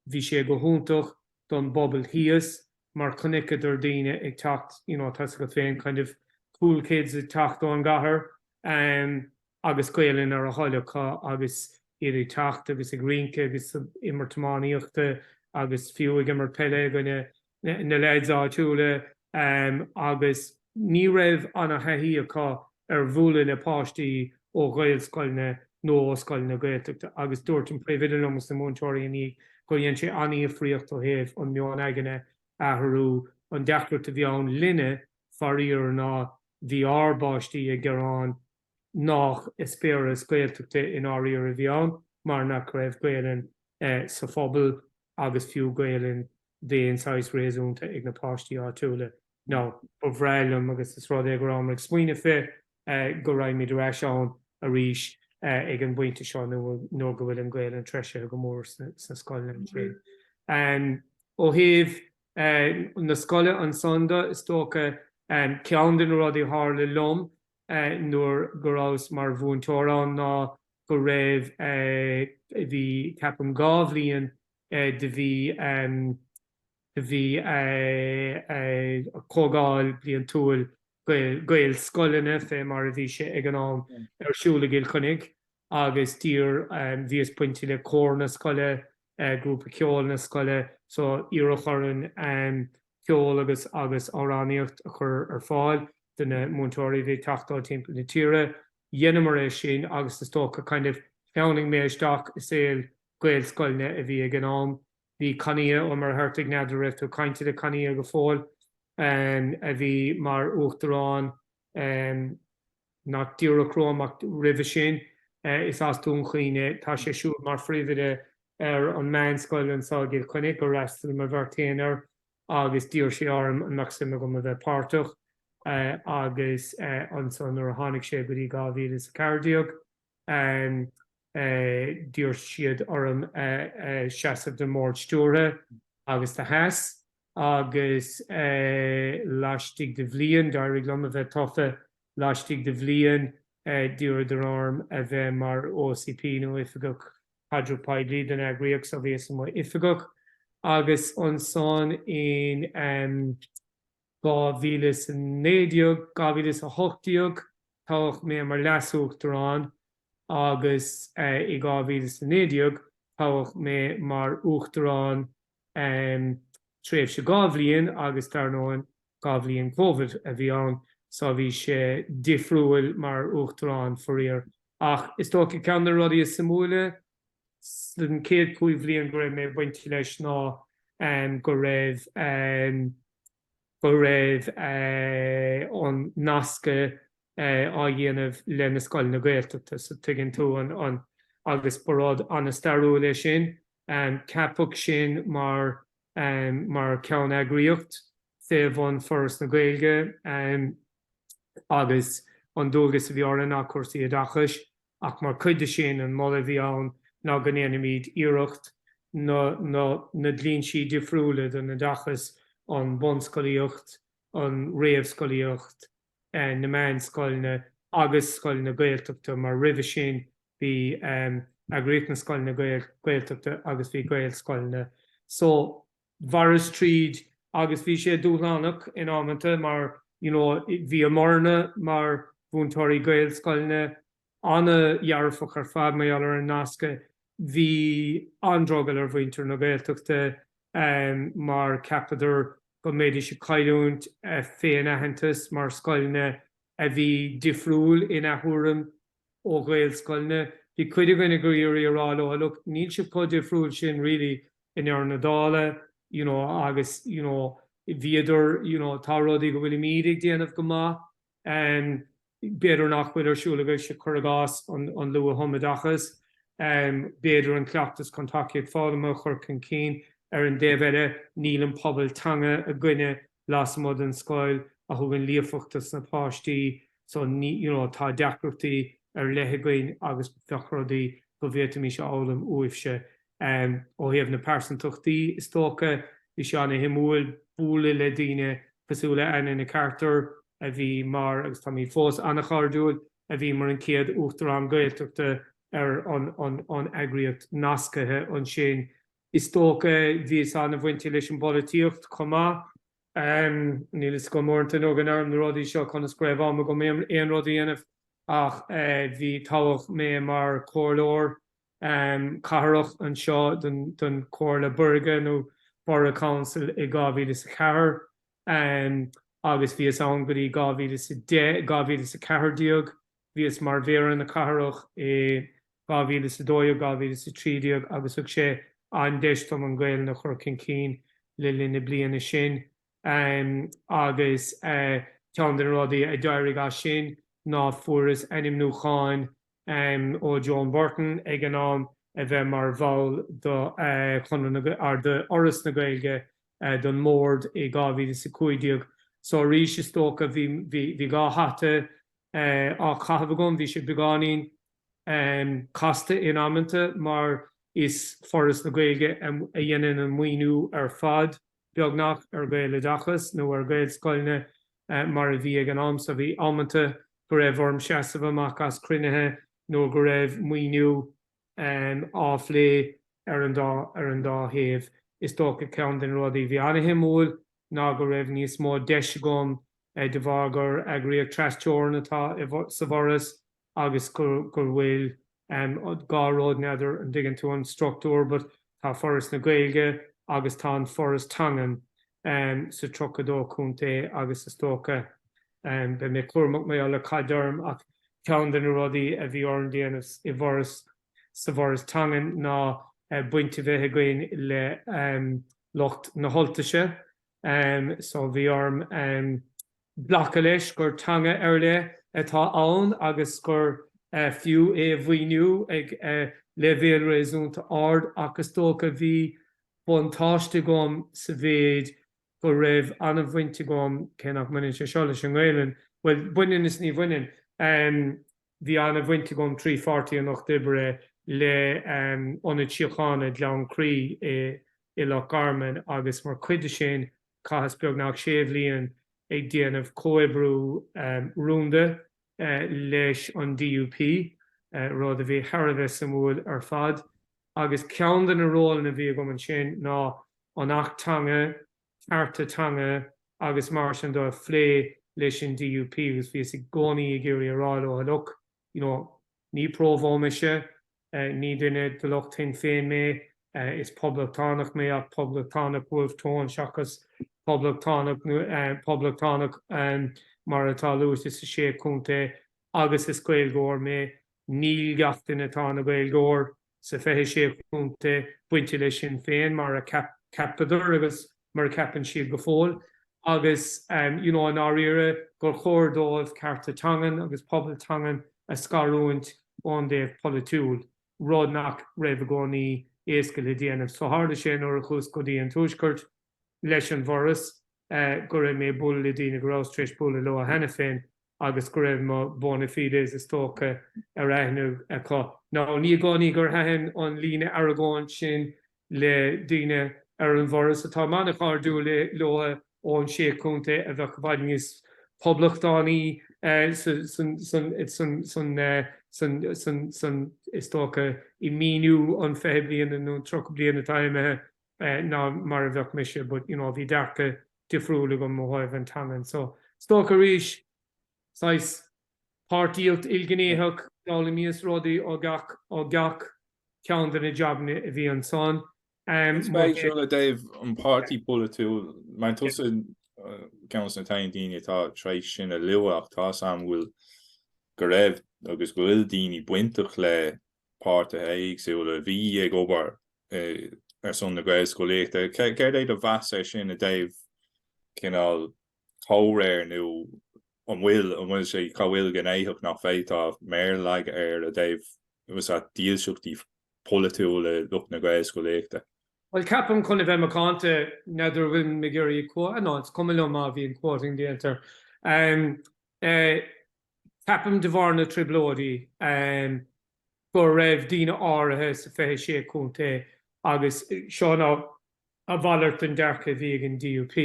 Bhí sé go hiontach don bpobal thíos, mar chonaiceadar daoine ag teacht you know tá's agat féin kind of cool kids ag teacht ón gcathair em agus Gaelainn ar a dtoil acu agus iad ag teacht agus ag rince agus ag imirt iománaíochta agus fiú ag imirt peile i gcoinne na leaids áitiúla em agus Ní raibh ana-thaithí acu ar bhualadh le páistí ó Ghaelscoileanna nó ó scoileanna Gaeltachta agus dúirt an Príomhoide liom is na múinteoirí ina dhiaidh gur dhein sé ana-dhifríocht ó thaobh an meon aigne a athrú. An deacracht a bhí ann linne, faraor, ná bhí ár bpáistí ag gearán nách eispéireas Gaeltachta i ndáiríre a bhí ann mar nach raibh Gaelainn sa phobal. agus fiú Gaelainn d'aon saghas réasúnta ag na páistí áitiúla. Now, ba bhreá liom, agus is rud é go rabhamar ag smaoineamh fé, go raghaimid ar ais ann arís ag an bpointe seo nuair go bhfuil an Ghaelainn treisithe go mór sna scoileanna ansin. Ó thaobh na scoile ansan de, is dócha ceann de na rudaí a tharla liom nuair go rabhas mar mhúinteoir ann ná go raibh, bhí ceapaim dhá bhliain do bhí, do bhí comhdháil bliantúil gael, gael scoileanna fé mar a bhí sé ag an am, ar siúl i gCill Chainnigh. agus d'iarr bhíos bainte le cór na scoile, grúpa ceoil na scoile, so iarradh orainn ceol agus agus amhránaíocht a chur ar fáil do na múinteoirí a bhí ag teacht ó timpeall na tíre. Dheineamar é sin agus is dócha kind of cheannaigh mé isteach i saol Gaelscoileanna a bhí ag an am. Bhí Cathnia Ó Muircheartaigh, n'fheadar an raibh tú ag caint le Cathnia go fóill, a bhí mar uachtarán nach díreach romham ach roimhe sin, is as Dún Chaoin é. Tá sé siúd mar phríomhoide ar an meánscoil anso i gCill Chainnigh gur fhreastail mo bheirt féin air agus d'iarr sé orm an mbeadh suim agam a bheith páirteach. Agus anso nuair a tháinig sé go dtí 2014, D'iarr siad orm seasamh don mbord stiúrtha agus do sheas agus laistigh de bhliain d'éirigh liom a bheith tofa, laistigh de bhliain d'iarradar orm a bheith mar OCP nó Oifigeach Caidreamh Poiblí don eagraíocht so bhíos i mo oifigeach agus ansan in 2019, 2018 toghadh mé mar Leas-Uachtarán agus i 2019 toghadh mé mar Uachtarán tréimhse dhá bhliain agus dar ndóigh dhá bhliain Covid a bhí ann so bhí sé difriúil mar Uachtarán faraor ach is dócha ceann de na rudaí is suimiúla sa chéad cúig bhliain go raibh mé bainte leis ná go raibh go raibh an nascadh á dhéanamh le na scoileanna Gaeltachta so tuigeann tú an agus ba rud an-stairiúil é sin. Ceapadh sinn mar mar cheanneagraíocht fé bhun Foras na Gaeilge agus an dualgas a bhí orainn ná cúrsaí oideachais, ach mar chuid de sin an moladh a bhí ann ná go ndéanfaimid iarracht na na na dlínsí difriúla don oideachas, an bunscolaíocht, an réamhscolaíocht, na meánscoileanna agus scoileanna Gaeltachta mar roimhe sin bhí eagraíocht na scoileanna Gaeltachta agus bhí Gaelscoileanna so Mhaireas tríd agus bhí sé dúshlánach in amanta mar you know bhí formhór na múinteoirí Gaelscoileanna ana-dhearfach ar fad mar gheall ar an nasc a bhí an-drogall ar mhuintir na Gaeltachta mar cheapadar go mbéidís ag cailliúint a bhféin-aitheantas mar scoileanna a bhí difriúil ina dtuairim ó ghaelscoileanna, bhí cuid againn ag iarraidh a rá leo, look, níl sibh chomh difriúil sin really i ndeireadh na dála, you know, agus, you know, bhíodar, you know, tá rudaí go bhfuilimíd ag déanamh go maith, em, b'fhéidir nach bhfuil ar siúl agaibhse, cuir i gcás, an, an luath-thumoideachas, em, b'fhéidir an cleachtas chun tacaíocht foghlama a chur chun cinn, ar an dtaobh eile, níl an pobal teanga againne lasmuigh den scoil a thugann líofacht dos na páistí so you know tá deacrachtaí ar leith againn agus bheadh rudaí go bhféadfaimis a fhoghlaim uaibhse em ó thaobh na pearsantachtaí is dócha. Bhí sé an-shuimiúil bualadh le daoine cosúil le Anna Ní Chartúir a bhí mar agus táimid fós an-chairdiúil a bhí mar an chéad Uachtarán Gaeltachta ar an an an eagraíocht nascaithe ansin. Is dócha bhíos an-bhainte leis an bpolaitíocht chomh maith. Níl fhios agam uaireanta nuair go n-áirím na rudaí seo conas go raibh am agam aon rud a dhéanamh ach bhí toghadh mé mar chomhairleoir cathrach anseo don Chomhairle Buirge nó Borough Council i 2004 agus bhíos ann go dtí 2010, 2014. Bhíos mar mhéara na cathrach i 2012, 2013 agus thug sé an-deis dom an Ghaelainn a chur chun cinn le linn na bliana sin agus ceann de na rudaí a d'éirigh as sin ná fuaireas ainmniúchán ó Joan Burton ag an am a bheith mar bhall d'Fhoras na Gaeilge don mBord i 2015 so arís is dócha bhí dhá hata á chaitheamh agam, bhí sé beagáinín casta in amanta mar is Foras na Gaeilge a dhéanann an maoiniú ar fad, beagnach, ar Ghaeloideachas nó ar Ghaelscoileanna mar a bhí ag an am so. Bhí amanta go raibh orm seasamh amach as cruinnithe nuair go raibh maoiniú á phlé ar an dá thaobh. Is dócha ceann de na rudaí a bhí an-shuimiúil ná go raibh níos mó deis agam, de bharr gur eagraíocht tras-teorann atá sa bhForas, agus go bhfuil dhá rud n'fheadar an dtuigeann tú an structúr but tá Foras na Gaeilge agus tá an Foras Teangan sa tríocha dó contae agus is dócha beidh mé cúramach mé le cad déarfainn ach ceann de na rudaí a bhí orm déanamh i bhForas sa bhForas Teangan ná baint a bheith againn le lucht na hUltaise so bhí orm glacadh leis gur teanga ar leith atá ann agus gur fiú é a mhaoiniú ag leibhéal réasúnta ard ach is dócha bhí buntáiste agam sa mhéid go raibh an-bhaint agam, cé nach mbaineann sé seo leis an nGaelainn, bhuel, baineann is ní bhaineann. Bhí ana bhaint agam trí Pháirtí an Lucht Oibre le Ionad Síochána Ghleann Crí i Loch Garman agus mar chuid de sin chaitheas beagnach sé bhliain ag déanamh comhoibriú rúnda leis an DUP, rud a bhí thar a bheith suimiúil ar fad. Agus ceann de na rólanna a bhí agam ansin ná an tAcht Teanga, cearta teanga agus mar sin de a phlé leis an DUP agus bhíos i gcónaí ag iarraidh a rá leo look, you know, ní Provo mise, ní duine de lucht Shinn Féin mé, is poblachtánach mé ach poblachtánach Wolfe Tone seachas poblachtánach poblachtánach mar atá luaite sna Sé Chontae agus is Gaeilgeoir mé, níl gach duine atá ina Gaeilgeoir. sa 26 Chontae bainte le Sinn Féin mar a cheapadar agus mar a cheapann siad go fóill agus you know i ndáiríre gur chóir dóibh cearta teangan agus pobal teangan a scarúint ón dtaobh polaitiúil, rud nach raibh i gcónaí éasca le déanamh. So tharla sé nuair a chuas go dtí an Tuaisceart leis an bhForas go raibh mé ag bualadh le daoine go rabhas tar éis bualadh leo cheana féin agus go raibh mo bona fides is dócha ar aithne acu. Now ní i gcónaí gur thaitin an líne argóna sin le daoine ar an bhForas atáim an-chairdiúil leo ó na Sé Chontae a bheadh i bhfad níos poblachtánaí san is dócha i míniú an fiche bliana nó an tríocha bliain atá imithe ná mar a bheinnse but you know bhí dearcadh difriúil agam i dtaobh na teangan so is dócha arís, saghas páirtíocht ilghnéitheach, d'fhoghlaimíos rudaí ó gach ó gach ceann de na jabanna a bhí ansan. Éagsúla. I dtaobh an pháirtí polaitiúil mar tusa ceann de na daoine atá tréis sin a lua ach tá a fhios agam go bhfuil go raibh agus go bhfuil daoine bainteach le páirtithe éagsúla a bhí ag obair ar son na Gaelscolaíochta. Céard é do mheas ar sin i dtaobh cineál comhréir nó an bhfuil an bhfuil sé cá bhfuil gné éigin nach bhféadfá méar a leagan air i dtaobh ús at dílseachtaí polaitiúla lucht na Gaelscolaíochta? Bhuel, ceapaim chun a bheith macánta n'fheadar an bhfuil mé ag iarraidh cumha anáit, cuma liom má bhíonn quoting déantar. Ceapaim de bharr na trioblóidí go raibh daoine áirithe sa 26 Contae agus seo ná a mhalairt den dearcadh a bhí ag an DUP.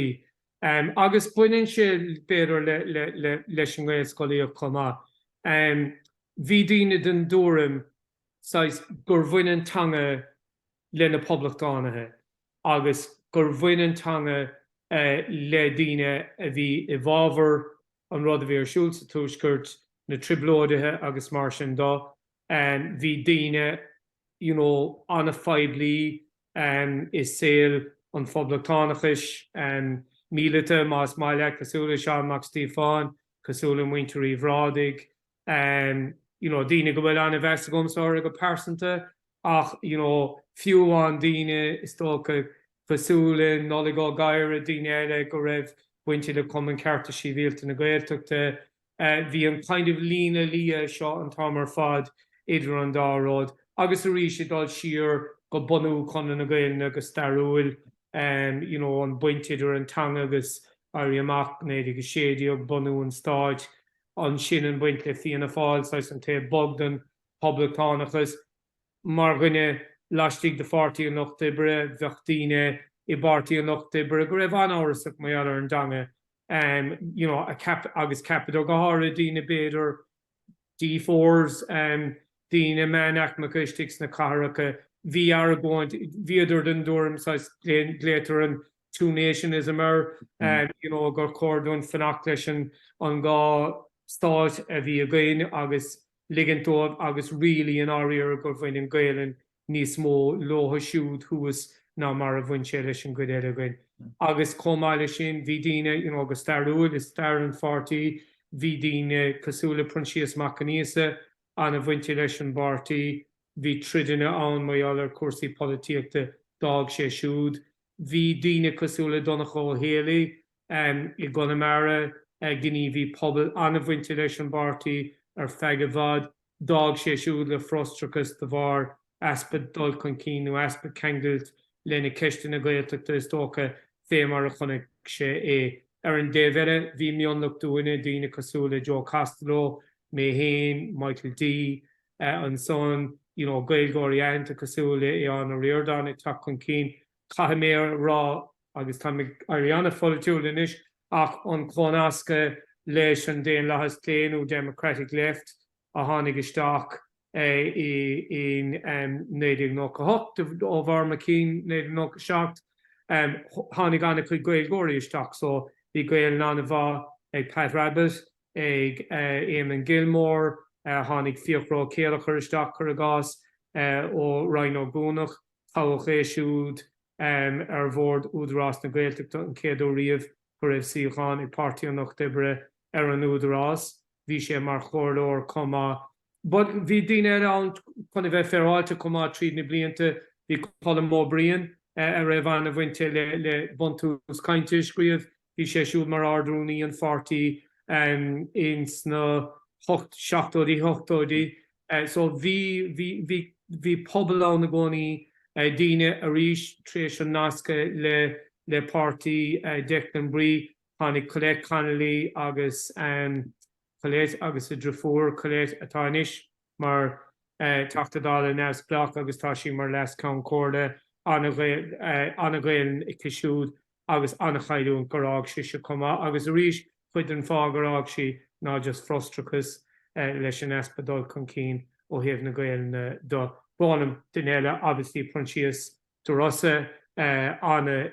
Agus baineann sé b'fhéidir leis an nGaelscolaíocht chomh maith. Bhí daoine den dtuairim saghas gur bhain an teanga le na poblachtánaithe agus gur bhain an teanga le daoine a bhí i bhfabhar an rud a bhí ar siúl sa Tuaisceart, na trioblóidithe agus mar sin de. Bhí daoine you know an-phoiblí i saol an phoblachtánachais míleata, más maith leat, cosúil le Seán Mac Stíofáin, cosúil le Muintir Uí Bhrádaigh, you know, daoine go bhfuil an-mheas agamsa orthu go pearsanta ach, you know, fiú amháin daoine is dócha cosúil le Nollaig Ó Gadhra, daoine eile go raibh bainte le Cumann Cearta Sibhialta na Gaeltachta, bhí an kind of líne liath seo an t-am ar fad idir an dá rud agus arís ag dul siar go bunú Conradh na Gaolainne go stairiúil, you know, an baint idir an teanga agus Éirí Amach 1916, bunú an stáit, ansin an baint le Fianna Fáil, saghas an taobh bog den poblachtánachas. Mar dhuine laistigh de Pháirtí an Lucht Oibre, bheadh daoine i bPáirtí an Lucht Oibre go raibh an-amhrasach mar gheall ar an dteanga you know agus ceapadar go háirithe daoine b'fhéidir D4s em daoine meánaicmeacha istigh sna catharacha bhí argóint bhíodar den dtuairim saghas glaotar an two-nationism air, you know, gur chóir dúinn fanacht leis an an dhá stáit a bhí againn agus ligint dóibh agus really i ndáiríre gur bhain an Ghaolainn níos mó leotha siúd thuas ná mar a bhain sé leis an gcuid eile againn. Agus chomh maith leis sin, bhí daoine, you know, go stairiúil i stair an pháirtí, bhí daoine cosúil le Proinsias Mac Aonghusa an-bhainte leis an bpáirtí, Bhí troideanna ann mar gheall ar chúrsaí polaitíochta, d'fhág sé siúd. Bhí daoine cosúil le Donncha Ó hÉallaithe i gConamara, gníomhaí pobail an-bhainte leis an bpáirtí ar feadh i bhfad, d'fhág sé siúd le frustrachas de bharr easpa dul chun cinn nó easpa ceangailt le na ceisteanna Gaeltachta is dócha, fé mar a chonaic sé é. Ar an dtaobh eile bhí mionlach dínne, daoine cosúil le Joe Costello, mé fhéin, Michael D. ansan, you know Gaeilgeoirí aitheanta cosúil le Aodhán Ó Ríordáin ag teacht chun cinn, caithfidh mé a rá, agus táim ag éirí an-pholaitiúil anois, ach an comhnascadh leis an daonlathas clé nó democratic left a tháinig isteach in 1998, ó bharr mo chinn 1997, tháinig an-chuid Gaeilgeoirí isteach, so bhí Gaolainn an-mhaith ag Pat Rabbitte, ag Eamon Gilmore, tháinig Fiachra Ó Céilleachair isteach, cuir i gcás, ó Rinn Ó gCuanach, toghadh é siúd ar Bhord Údarás na Gaeltachta an chéad uair riamh go raibh suíochán ag Páirtí an Lucht Oibre ar an Údarás, bhí sé mar chomhairleoir chomh maith But bhí daoine eile ann chun a bheith féaráilte chomh maith tríd na blianta. Bhí Colm Ó Briain a raibh an-bhaint aige le Buntús Cainte a scríobh. Bhí sé siúd mar Ard-Rúnaí an pháirtí ins na seachtóidí, hochtóidí. So bhí, bhí, bhí, bhí pobal ann i gcónaí, daoine arís tar éis an nasctha le, le páirtí Declan Bree, tháinig Colette Connolly agus. Colette agus a driofúr, Colette, atá anois mar Teachta Dála neamhspleách agus tá sí mar Leas-Cheann Comhairle. An-Ghaelainn aici siúd agus an-chailliúint gur fhág sise chomh maith agus arís cuid den fáth gur fhág sí ná just frustrachas leis an easpa dul chun cinn ó thaobh na Gaelainne do. Mh'anam, duine eile obviously Proinsias De Rossa ana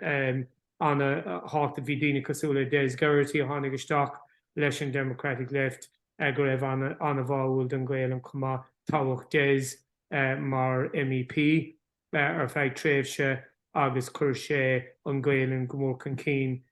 thábhachtach. Bhí daoine cosúil le Des Geraghty a tháinig isteach leis an Democratic Left go raibh ana bháúil don Ghaelainn chomh maith. Toghadh Des mar MEP ar feadh tréimhse agus chuir sé an Ghaelainn go mór chun cinn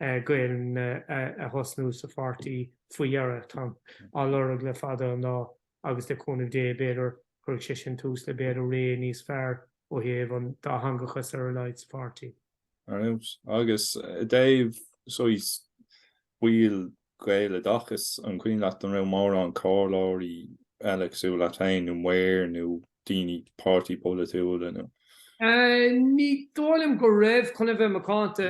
Gaelainne a thosnú sa pháirtí faoi dheireadh. Táim á lorg le fada an lá agus le cúnamh Dé b'fhéidir cuirfidh sé sin tús le b'fhéidir ré níos fearr ó thaobh an dátheangachas ar a laghad sa pháirtí. Ar fheabhas. Agus i dtaobh saghas baill Gaeloideachas. An cuimhin leat an raibh mórán comhairleoirí eile cosúil leat féin nó maoir nó daoine páirtithe polaitiúla nó. Ní dóigh liom go raibh, chun a bheith macánta.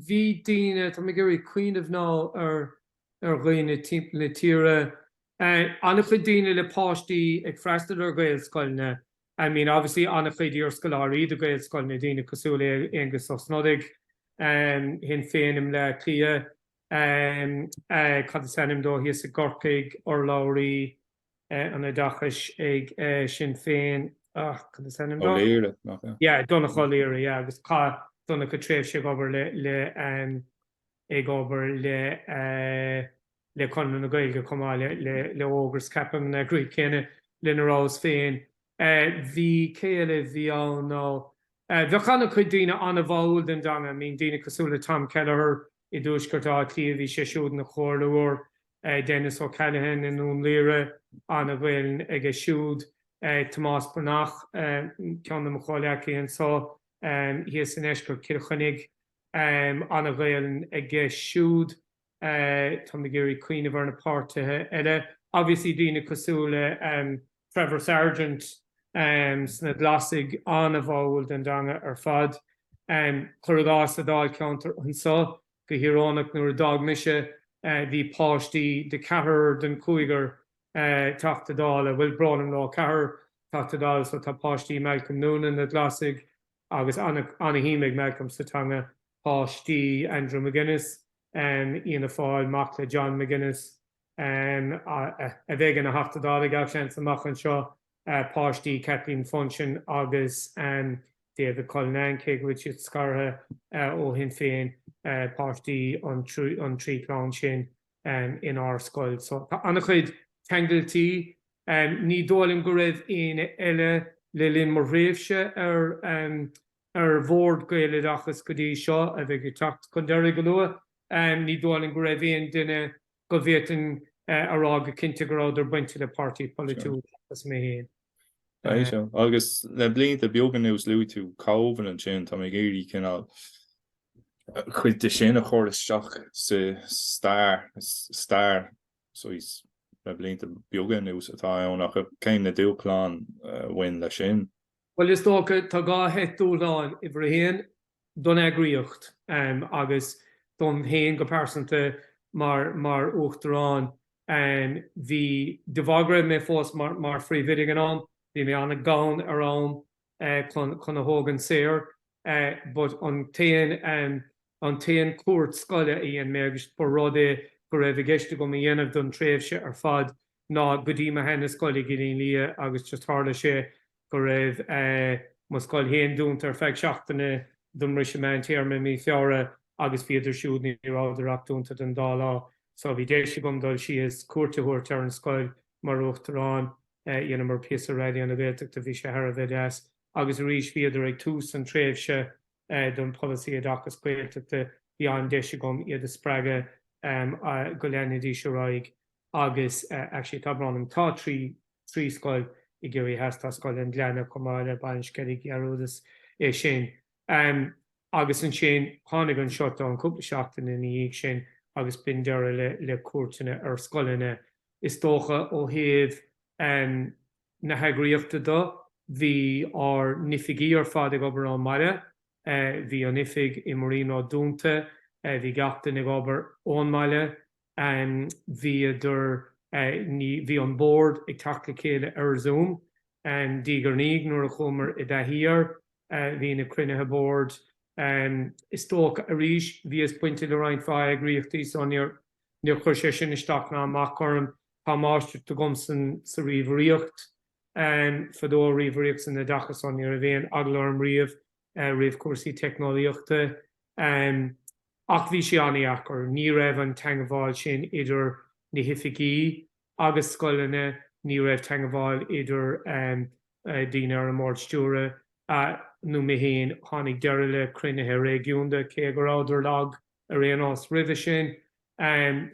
Bhí daoine, tá mé ag iarraidh cuimhneamh now ar ar dhaoine timpeall na tíre, an-chuid daoine le páistí ag freastal ar Ghaelscoileanna, I mean obviously an-chuid iarscoláirí de Ghaelscoileanna, daoine cosúil le Aengus Ó Snodaigh, Shinn Féin i mBleá Cliath. cad is ainm dó thíos i gCorcaigh, urlabhraí an Oideachais ag Sinn Féin, ah cad is ainm dó? O'Leary, Yeah, Donncha O'Leary, yeah, agus chaith Donncha tréimhse ag obair le, le, um, ag obair le, uh, le Conradh na Gaeilge chomh maith le, le, le Ógras, ceapaim an eagraíocht chéanna lena rabhas féin. Uh, bhí céile, bhí ann nó, Bheadh ana chuid daoine ana bháúil don dteanga. I mean daoine cosúil le Tom Kelleher i dtuaisceart Átha Cliath, bhí sé siúd ina chomhairleoir. Denis O'Callaghan i nDún Laoghaire, ana Ghaelainn aige siúd. Tomás Breathnach, ceann dem chomhleacaithe anseo thíos i ndeisceart Chill Chainnigh, ana Ghaelainn aige siúd. Táim ag iarraidh cuimhneamh ar na páirtithe eile. Obviously daoine cosúil le Trevor Sargent sna Glasaigh, an-bháúil don dteanga ar fad. Cur i gcás sa dáilcheantar anseo, go híoróineach nuair a d'fhág mise bhí páistí de ceathrar den chúigear Teachta Dála, bhuel brón orm leis an ceathrar Teachta Dála so tá páistí Malcolm Noonan, na Glasaigh, Agus ana-shuim ag Malcolm sa teanga. Páistí Andrew McGuinness, Fhianna Fáil, mac le John McGuinness, a bheidh ina Theachta Dála, gach seans, amach anseo. Páistí Kathleen Funchion agus David Cullinane, cé go bhfuil siad scartha ó Shinn Féin. Páistí an trí chlann sin. in ár scoil so tá an-chuid ceangailtí. Ní dóigh liom go raibh éinne eile le linn mo thréimhse ar Bhord Gaeloideachas go dtí seo a bheidh ag teacht chun deiridh go luath, ní dóigh liom go raibh aon duine go bhféadfainn a rá go cinnte go rabhadar bainte le páirtí polaitiúil seachas mé féin. Agus le blianta beaga anuas luaigh tú Caoimhin ansin, tá mé ag iarraidh cineál, chuid de sin a chur isteach sa stair, so is le blianta beaga anuas atá ann ach cé na dúshláin a bhain leis sin? Bhuel is dócha tá dhá sheit dúshlán, uimhir a haon don eagraíocht agus dom héin go pearsanta mar Uachtarán. Bhí, de bharr go raibh mé fós mar phríomhoide ag an am, bhí mé an-ghann ar am chun a thógaint saor but an t-aon an t-aon cuairt scoile a dhein mé agus ba rud é go raibh i gceist agam a dhéanamh don tréimhse ar fad ná go dtí mo sheana scoil i gCillín Liath agus just tharla sé go raibh mo scoil fhéin dúnta ar feadh seachtaine don mbriseadh meántéarma i mí Feabhra agus bhíodar siúd ní rabhadar ach dúnta don dá lá so bhí deis agam dul síos cuairt a thabhairt ar an scoil mar Uachtarán, dheineamar píosa Raidió na Gaeltachta, bhí sé thar a bheith deas. Agus arís, bhíodar ag tús an tréimhse don Polasaí Oideachais Gaeltachta, bhí an-deis agam iad a spreagadh go leanfaidís ar aghaidh agus actually tá brón orm, tá trí, trí scoil i gCiarraí Theas, tá Scoil an Ghleanna chomh maith le Baile an Sceilg, dhearúdas é sin. Agus ansin tháinig an shutdown cúpla seachtain ina dhiaidh sin agus b'in deireadh le cuairteanna ar scoileanna Is dócha ó thaobh na heagraíochta dó, bhí ár n-oifigí ar fad ag obair ón mbaile. Bhí an oifig i Marino dúnta, bhí gach duine ag obair ón mbaile. Bhíodar, ní, bhí an bord ag teacht le chéile ar Zoom diaidh ar ndiaidh nuair a chuamar i dtaithí air. Bhí na cruinnithe boird, is dócha, arís, bhíos bainte le roinnt mhaith eagraíochtaí so níor, Níor chuir sé sin isteach ná amach chugam. Tá máistreacht agam sa ríomhairíocht fadó, ríomhairíocht san oideachas, so ní raibh aon eagla orm riamh roimh cúrsaí teicneolaíochta. Ach bhí sé an-dheacair. Ní raibh an teangmháil sin idir na hoifigí agus scoileanna, ní raibh teangmháil idir daoine ar an mbord stiúra nó mé fhéin. Tháinig deireadh le cruinnithe réigiúnda, cé go rabhadar lag. ar aon nós, roimhe sin.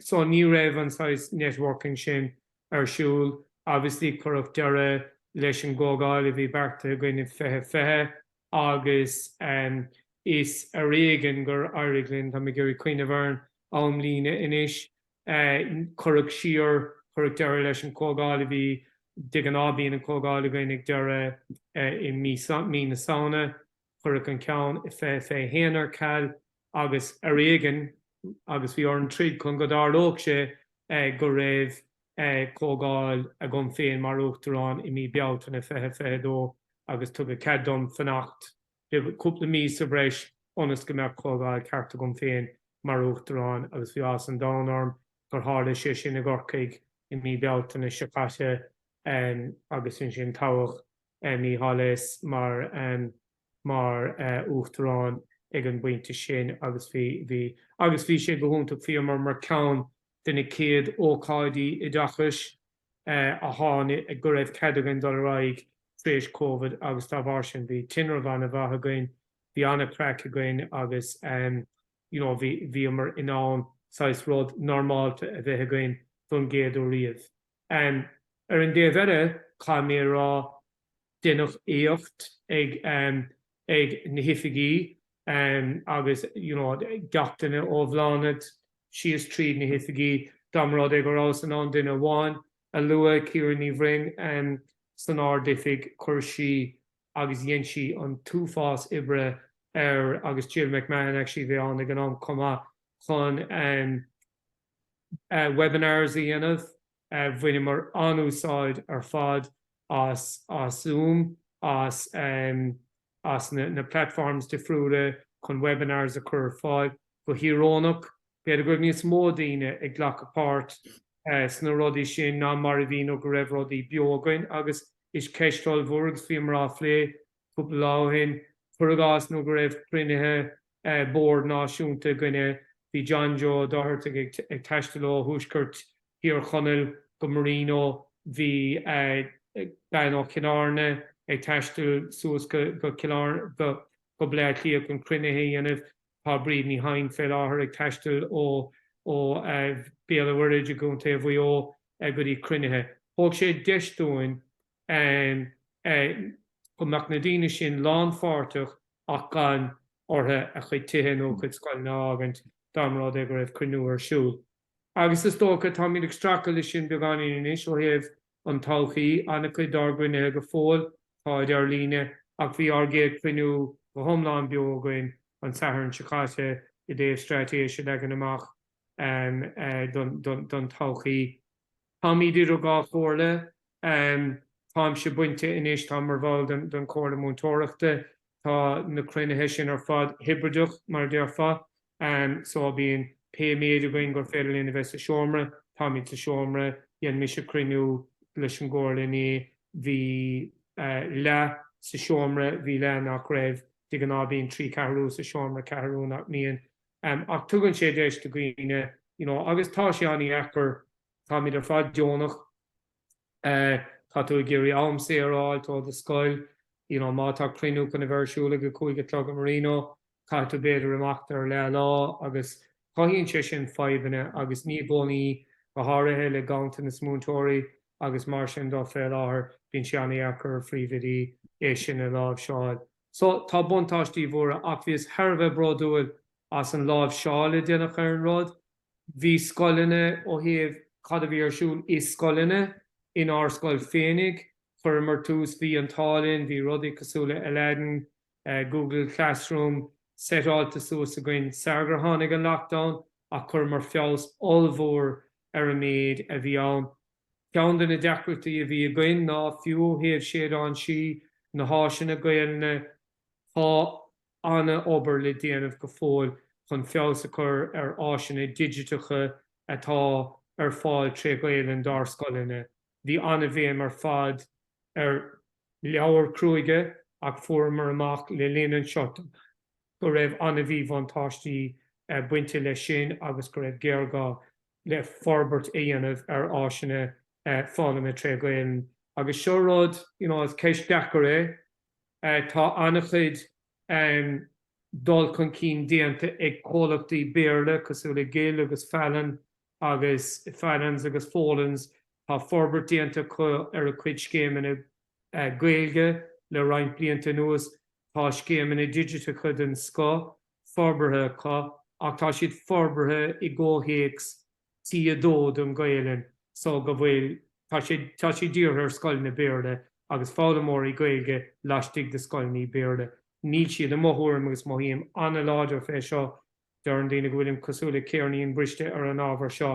So ní raibh an saghas networking sin ar siúl. Obviously cuireadh deireadh leis an gcomhdháil a bhí beartaithe againn i 2020 agus is ar éigean gur éirigh linn, tá mé ag iarraidh cuimhneamh ar an amlíne anois, cuireadh siar, cuireadh deireadh leis an gcomhdháil a bhí, de ghnáth bíonn an chomhdháil againn ag deireadh, i mí na Samhna. Cuireadh an ceann i fiche fiche a haon ar ceal agus ar éigin agus bhí orainn troid chun go dtarlódh sé go raibh comhdháil agam féin mar Uachtarán i mí Bealtaine fiche fiche a dó agus tugadh cead dom fanacht cúpla mí sa bhreis ionas go mbeadh comhdháil ceart agam féin mar Uachtarán agus bhí áthas an domhain orm gur tharla sé sin i gCorcaigh i mí Bealtaine seo caite agus ansin toghadh Mícheál as mar Uachtarán ag an bpointe sin agus bhí bhí agus bhí sé go hiontach bhíomar mar ceann de na céad ócáidí oideachais a tháinig go raibh cead againn dul ar aghaidh tar éis Covid agus dá bharr sin bhí tinreamh an-mhaith againn bhí an-craic againn agus you know bhí bhíomar in ann saghas rud normálta a bheith againn don gcéad uair riamh. Ar an dtaobh eile, caithfidh mé a rá, deineadh éacht ag na hoifigí agus you know gach duine ó Bhláthnaid síos tríd na hoifigí, dá mba rud é go rabhas in ann duine amháin a lua, Ciara Ní Bhroin san Ardoifig, chuir sí agus dhein sí an t-uafás oibre air agus Jill McMahon actually a bhí ann ag an am chomh maith chun, webinars a dhéanamh. Bhaineamar an-úsáid ar fad as Zoom, as na platforms difriúla chun webinars a chur ar fáil. Go híoróineach, b'fhéidir go raibh níos mó daoine ag glacadh páirt sna rudaí sin ná mar a bhí nuair go raibh rudaí beo againn agus is ceist ollmhór í agus bhíomar á phlé cúpla lá ó shin, cur i gcás, nuair go raibh cruinnithe bord náisiúnta againne, bhí John Joe Doherty ag taisteal ó thuaisceart Thír Chonaill go Marino, bhí bean ó Chill Airne ag taisteal suas go Baile Átha Cliath chun cruinnithe a dhéanamh, tá Bríd Ní Sheighin fé láthair ag taisteal ó Bhéal an Mhuirthid i gContae Mhuigh Eo go dtí cruinnithe. Thug sé deis dúinn go mbeadh na daoine sin lánpháirteach ach gan ortha a chuid tithe nó a chuid scoileanna a fhágaint dá mba rud é go raibh cruinniú ar siúl. Agus is dócha, táimid ag streachailt leis sin beagáinín anois ó thaobh an todhchaí, an-chuid dár gcruinnithe go fóill, táid ar líne, ach bhí ár gcéad chruinniú go hiomlán beo againn an Satharn seo caite i dtaobh straitéis a leagan amach don todhchaí. Táimid idir dhá chomhairle. Táimse bainte anois, táim mar bhall don Chomhairle Mhúinteoireachta. Tá na cruinnithe sin ar fad hibrideach, mar a déarfá, só bíonn pé méid againn gur féidir linn a bheith sa seomra, táimid sa seomra. Dhein mise cruinniú leis an gComhairle inné, bhí leath sa seomra, bhí leath nach raibh. De ghnáth bíonn trí cheathrú sa seomra, ceathrú nach mbíonn. ach tugann sé deis do dhaoine you know agus tá sé an-dheacair, táimid ar fad deonach, tá tú ag iarraidh am saor a fháilt ó do scoil, you know má tá cruinniú chun a bheith ar siúl ag a cúig a chlog i Marino, caithfidh tú b'fhéidir imeacht ar leath lá agus cothaíonn sé sin fadhbanna agus ní i gcónaí, go háirithe le ganntanas múinteoirí agus mar sin dó fé láthair, bíonn sé an-dheacair ar phríomhoidí é sin a láimhseáil. So, tá buntáistí mhóra ach bhíos thar a bheith bródúil as an láimhseáil a deineach ar an rud. Bhí scoileanna ó thaobh cad a bhí ar siúl i scoileanna, in ár scoil féinig, chuireamar tús, bhí an t-ádh linn, bhí rudaí cosúil le Aladdin, Google Classroom seitáilte suas againn sara gur tháinig an lockdown ach chuireamar feabhas ollmhór ar an méid a bhí ann. Ceann de na deacrachtaí a bhí againn ná fiú ó thaobh Séideán Sí, na háiseanna Gaelainne tá ana obair le déanamh go fóill chun feabhas a chur ar áiseanna digiteacha atá ar fáil tré Ghaelainn dár scoileanna. Bhí ana bhéim ar fad ar leabhair chruachóipe ach fuaireamar amach le linn an tseoit go raibh ana mhíbhuntáistí bainte leis sin agus go raibh géarghá le forbairt a dhéanamh ar áiseanna foghlama tré Ghaelainn agus seo rud you know is ceist deacair é. Tá an-chuid dul chun cinn déanta ag comhlachtaí Béarla cosúil le Gill agus Fallon agus Fallons agus Folens, tá forbairt déanta acu ar a gcuid scéimeanna Gaeilge le roinnt blianta anuas, tá scéimeanna digiteacha den scoth forbartha acu ach tá siad forbartha i gcomhthéacs T2 don Ghaelainn so go bhfuil, tá sé, tá siad dírithe ar scoileanna Béarla agus foghlaimeoirí Gaeilge laistigh de scoileanna Béarla. Níl siad, i mo thuairim, agus mothaím an-láidir fé seo, deireann daoine go bhfuilim cosúil le céirnín briste ar an ábhar seo,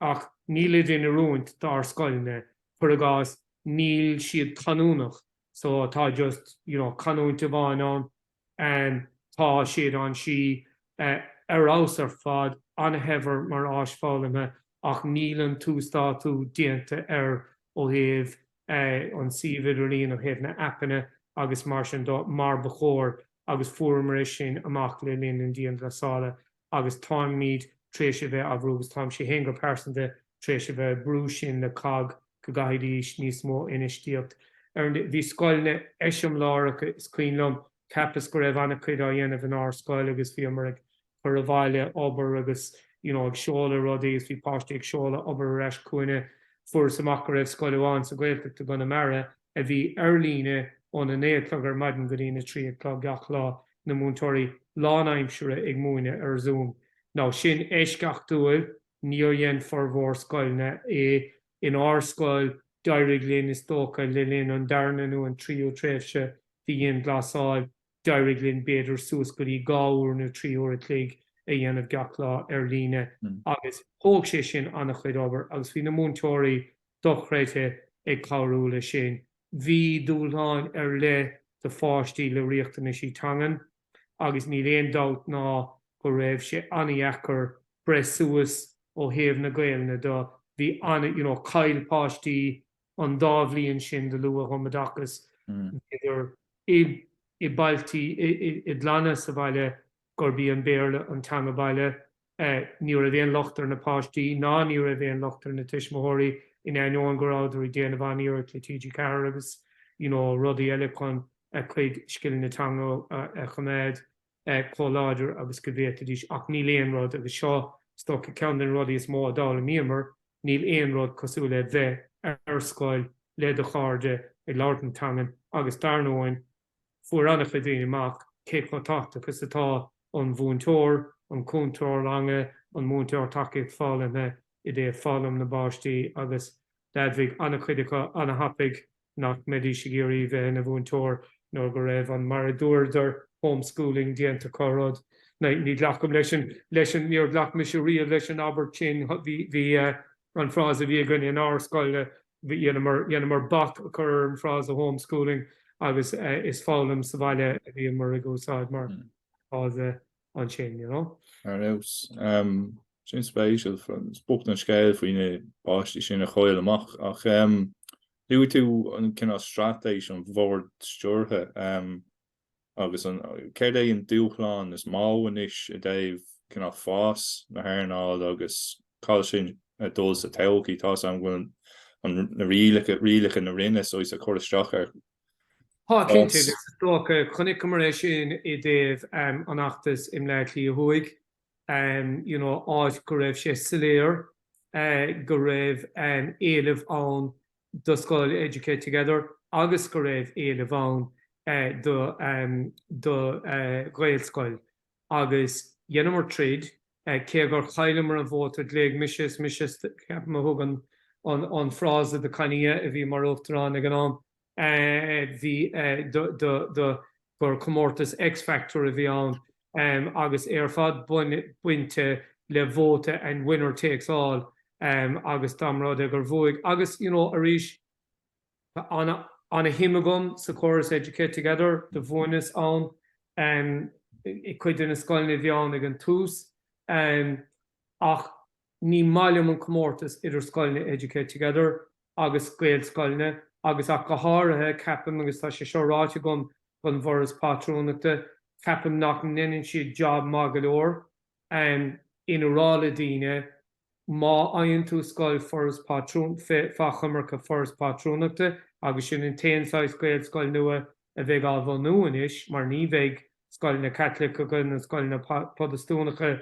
ach níl siad in oiriúint d'ár scoileanna, cuir i gcás, níl siad canúnach so tá just, you know, canúint amháin ann. Tá Séideán Sí ar fheabhas ar fad, an-shaibhir mar áis foghlamtha ach níl an t-uasdátú déanta air ó thaobh an suíomh idirlíon, ó thaobh na aipeanna agus mar sin dó mar ba chóir agus fuaireamar é sin amach le linn an dianghlasála. agus táimid tar éis a bheith á bhrú, agus táimse féin go pearsanta tar éis a bheith ag brú sin le COGG go gcaithfidís níos mó infheistíocht. Bhí scoileanna eiseamláireacha, is cuimhin liom, cheapas go raibh an-chuid á dhéanamh inár scoil agus bhíomar ag cur abhaile obair agus you know ag seoladh rudaí agus bhí páistí ag seoladh obair ar ais chugainne. Fuaireas amach go raibh scoil amháin sa Ghaeltacht i gConamara a bhí ar líne óna naoi a chlog ar maidin go dtína trí a chlog gach lá. na múinteoirí lánaimsire ag múineadh ar Zoom nó sin eisceachtúil, níor dhein formhór scoileanna é, in ár scoil d'éirigh linn is dócha le linn an darna nó an tríú tréimhse de dhianghlasáil d'éirigh linn b'fhéidir suas go dtí dhá uair nó trí huair a chloig a dhéanamh gach lá ar líne agus thóg sé sin an-chuid obair agus bhí na múinteoirí dochreidte ag cabhrú le sin. Bhí dúshláin ar leith do pháistí le riachtanaisí teangan agus níl aon dabht ná go raibh sé an-dheacair breith suas ó thaobh na Gaelainne de. Bhí an, you know, chaill páistí an dá bhliain sin de luath-thumoideachas, b'fhéidir i i mbailtí, i gclanna sa bhaile gurb í an Béarla an teanga baile Ní raibh aon locht ar na páistí ná ní raibh aon locht ar na tuismitheoirí in ainneoin go rabhadar ag déanamh an-iarracht le TG Ceathair agus you know rudaí eile chun a cuid scileanna teanga a choimeád chomh láidir agus go bhféadfaidís ach níl aon rud agus seo is dócha ceann de na rudaí is mó a d'fhoghlaimíomar, níl aon rud cosúil le bheith ar scoil le do chairde ag labhairt na teangan agus dar ndóigh Fuair an-chuid daoine amach cé chomh tábhachtach agus atá an mhúinteoir, an cúntóir ranga, an múinteoir tacaíocht foghlamtha i dtaobh foghlaim na bpáistí agus d'admhaigh an-chuid acu an-thapaidh nach mbeidís ag iarraidh bheith ina mhúinteoir nuair go raibh an, mar a dúradar, home schooling déanta acu, rud. Ní ghlacaim leis an, leis an, níor ghlac mise riamh leis an abairt sin. Bhí, bhí, an frása a bhí againne in ár scoil Dheineamar bac a chur ar an frása home schooling agus is foghlaim sa bhaile a bhíomar ag úsáid mar fhrása ansin, you know. Ar nós, sin spéisiúil, is bocht an scéal faoi na páistí sin a chaill amach. Ach luaigh tú an cineál straitéis, an bhord stiúrtha. agus an céard é an dúshlán is mó anois i dtaobh cineál fás na hearnála agus cá bhfuil sin ag dul sa todhchaí. Tá's a'm go bhfuil an na rialacha na Roinne so is ag cur isteach ar Tá cinnte agus is dócha chonaiceamar é sin i dtaobh um, an fheachtas i mBleá Cliath Thuaidh um, you know, áit go raibh sé soiléir uh, go raibh um, éileamh ann do scoil Educate Together agus go raibh éileamh ann do Ghaelscoil agus dheineamar troid cé gur chailleamar an vóta ghlaoigh mise is mise ceapaim a thug an frása do Connie a bhí mar Uachtarán ag an am bhí do gur comórtas X Factor a bhí ann agus é ar fad bainte le vóta and winner takes all agus dá mba rud é gur bhuaigh agus you know arís tá ana ana shuim agam sa córas Educate Together do mhúineas-sa i gcuid de na scoileanna a bhí ann ag an tús ach Ní maith liom an comórtas idir scoileanna Educate Together agus Gaelscoileanna agus ach go háirithe, ceapaim, agus tá sé seo ráite agam don bhForas Pátrúnachta, ceapaim nach ndeineann siad job maith go leor in a rá le daoine má fhaigheann tú scoil Foras Pátrún, fá choimirce Foras Pátrúnachta agus sin an t-aon saghas Gaelscoil nua a bheidh á bhunú anois mar ní bheidh scoileanna Caitliceacha ná scoileanna Protastúnacha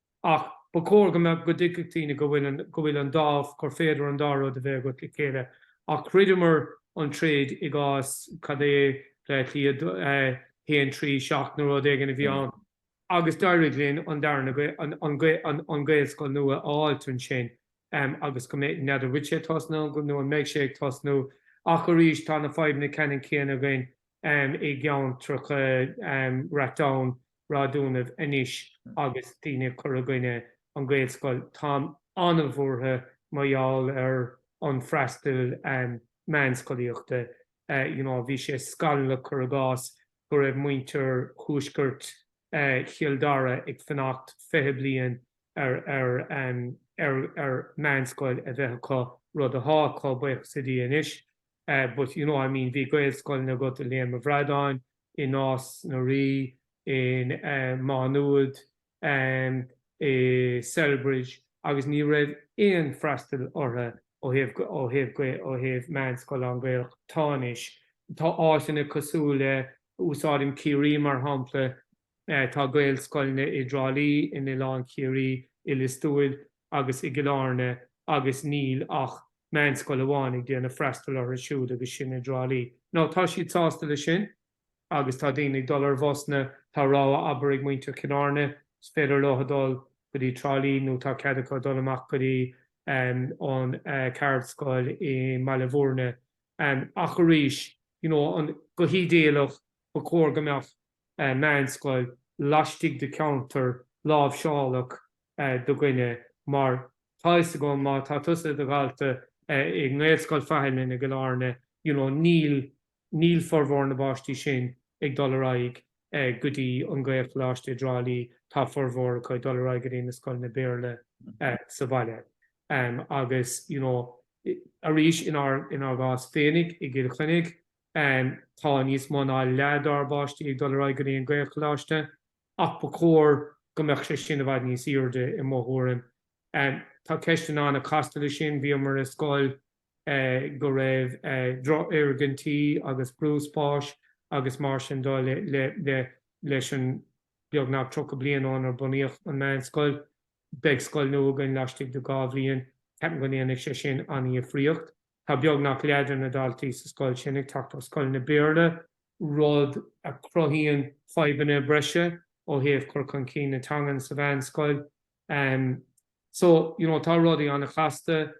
Ach ba chóir go mbeadh, go dtuigfeadh daoine go bhfuil an, go bhfuil an dá, gur féidir an dá rud a bheith agat le chéile. Ach throideamar an troid i gcás, cad é, Bleá Cliath a haon trí seacht nó rud éigin a bhí ann. Agus d'éirigh linn an darna, an, an Gaelscoil nua a fháilt ansin agus go mbeadh, n'fheadar, an bhfuil sé tosnaithe nó an mbeidh sé ag tosnú ach arís tá na fadhbanna ceanann céanna againn. i gceantracha Ratoath Ráth Domhnaigh anois agus daoine ag cur i gcoinne an Gaelscoil. Táim an-bhuartha mar gheall ar an freastail meánscolaíochta. You know bhí sé scanallach cur i gcás go raibh muintir thuaiscirt Chill Dara ag fanacht fiche bliain ar meánscoil a bheith acu, rud athá acu, buíochas le Dia anois. but you know I mean bhí Gaelscoileanna agat i Léim a' Bhradáin, i Nás na Rí, i Má Nuad, i Celbridge agus ní raibh aon freastail orthu ó thaobh, ó thaobh, ó thaobh meánscoil lán-Gaelach. Tá anois, tá áiteanna cosúil le, úsáidim Ciarraí mar shampla, Tá Gaelscoileanna i dTrá Lí, in Oileán Chiarraí, i Lios Tuathail agus i gCill Áirne agus níl ach meánscoil amháin ag déanamh freastal orthu siúd agus sin i dTrá Lí. Now tá siad sásta le sin agus tá daoine ag dul ar bhusanna. Tá rogha abair ag muintir Chill Áirne, is féidir leo dul go dtí Trá Lí nó tá cead acu dul amach go dtí an ceardscoil i mBaile Mhúirne. Ach arís, you know, go hídéalach ba chóir go mbeadh meánscoil laistigh de cheantar láimhseálach do dhuine. Mar tá fhios agam má tá tusa id dhalta i nGaelscoil Faithleann i gCill Airne you know níl níl formhór na bpáistí sin ag dul ar aghaidh go dtí an Gaelcholáiste i dTrá Lí, tá formhór acu ag dul ar aghaidh go dtí na scoileanna Béarla sa bhaile. Agus you know arís inár inár gcás féinig i gCill Chainnigh, Tá níos mó ná leath dár bpáistí ag dul ar aghaidh go dtí an Gaelcholáiste ach ba chóir go mbeadh sé sin i bhfad níos aoirde i mo thuairim. Tá ceisteanna ana-chasta le sin, bhíomar i scoil go raibh drochfhoirgintí agus brú spáis agus mar sin de leis an beagnach tríocha bliain ónar bunaíodh an meánscoil. Beidh scoil nua againn laistigh de dhá bhliain, ceapaim go ndéanfaidh sé sin an-dhifríocht. Tá beagnach leath de na daltaí sa scoil sin ag teacht ó scoileanna Béarla, rud a chruthaíonn fadhbanna breise ó thaobh cur chun cinn na teangan sa mheánscoil. So, you know, tá rudaí an-chasta.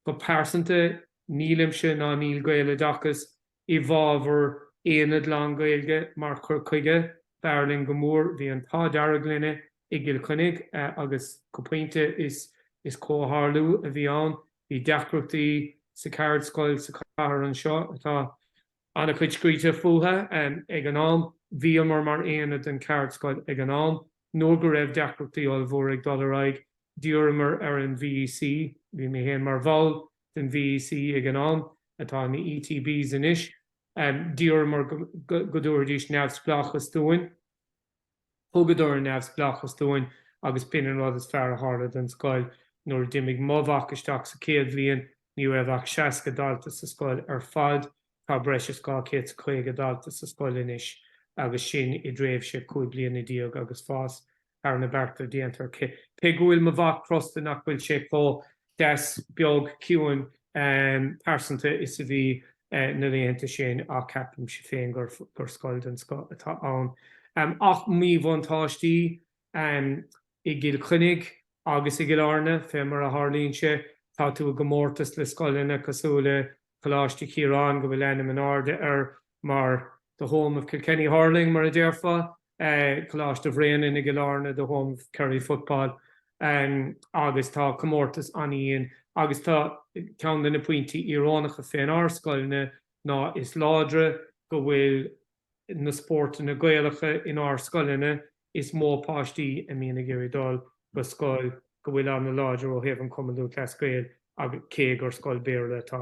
Go pearsanta, nílimse ná níl Gaeloideachas i bhfábhar aonad lánGhaeilge mar chur chuige, b'fhearr linn go mór, bhí an t-ádh dearg linn i gCill Chainnigh agus go pointe is is comhtharlú a bhí ann, bhí deacrachtaí sa cheardscoil sa chathair anseo atá an-chuid scríte fútha ag an am, bhíomar mar aonad den cheardscoil ag an am. Nuair go raibh deacrachtaí ollmhóra ag dul ar aghaidh, d'iarramar ar an VEC, bhí mé féin mar bhall den VEC ag an am, atá ina ETBs anois, d'iarramar go dtabharfaidís neamhspleáchas dúinn. Thugadar an neamhspleáchas dúinn agus b'in an rud is fearr a tharla don scoil. Nuair a d'imigh mo mhac isteach sa chéad bhliain, ní raibh ach 60 dalta sa scoil ar fad. Tá breis is 250 dalta sa scoil anois agus sin i dtréimhse cúig bliana déag agus fás thar na bearta déanta. Cé go bhfuil mo mhac crosta nach bhfuil sé chomh deas, beag, ciúin, pearsanta is a bhí na laethanta sin ach ceapaimse féin gur scoil den scoth atá ann. Ach míbhuntáistí i gCill Chainnigh agus i gCill Airne, fé mar a tharlaíonn sé, tá tú i gcomórtas le scoileanna cosúil le Coláiste Chiaráin go bhfuil ainm in airde air mar the home of Kilkenny hurling, mar a déarfá, Coláiste Bhréanainn i gCill Airne the home of Kerry football agus tá comórtas an-dhian agus tá ceann de na pointí íorónacha fén ár scoileanna ná is láidre go bhfuil na spórtanna Gaelacha in ár scoileanna is mó páistí a mbíonn a ag iarraidh dul go scoil go bhfuil an-láidir ó thaobh an Cumann Lúthchleas Gael agus cé gur scoil Béarla atá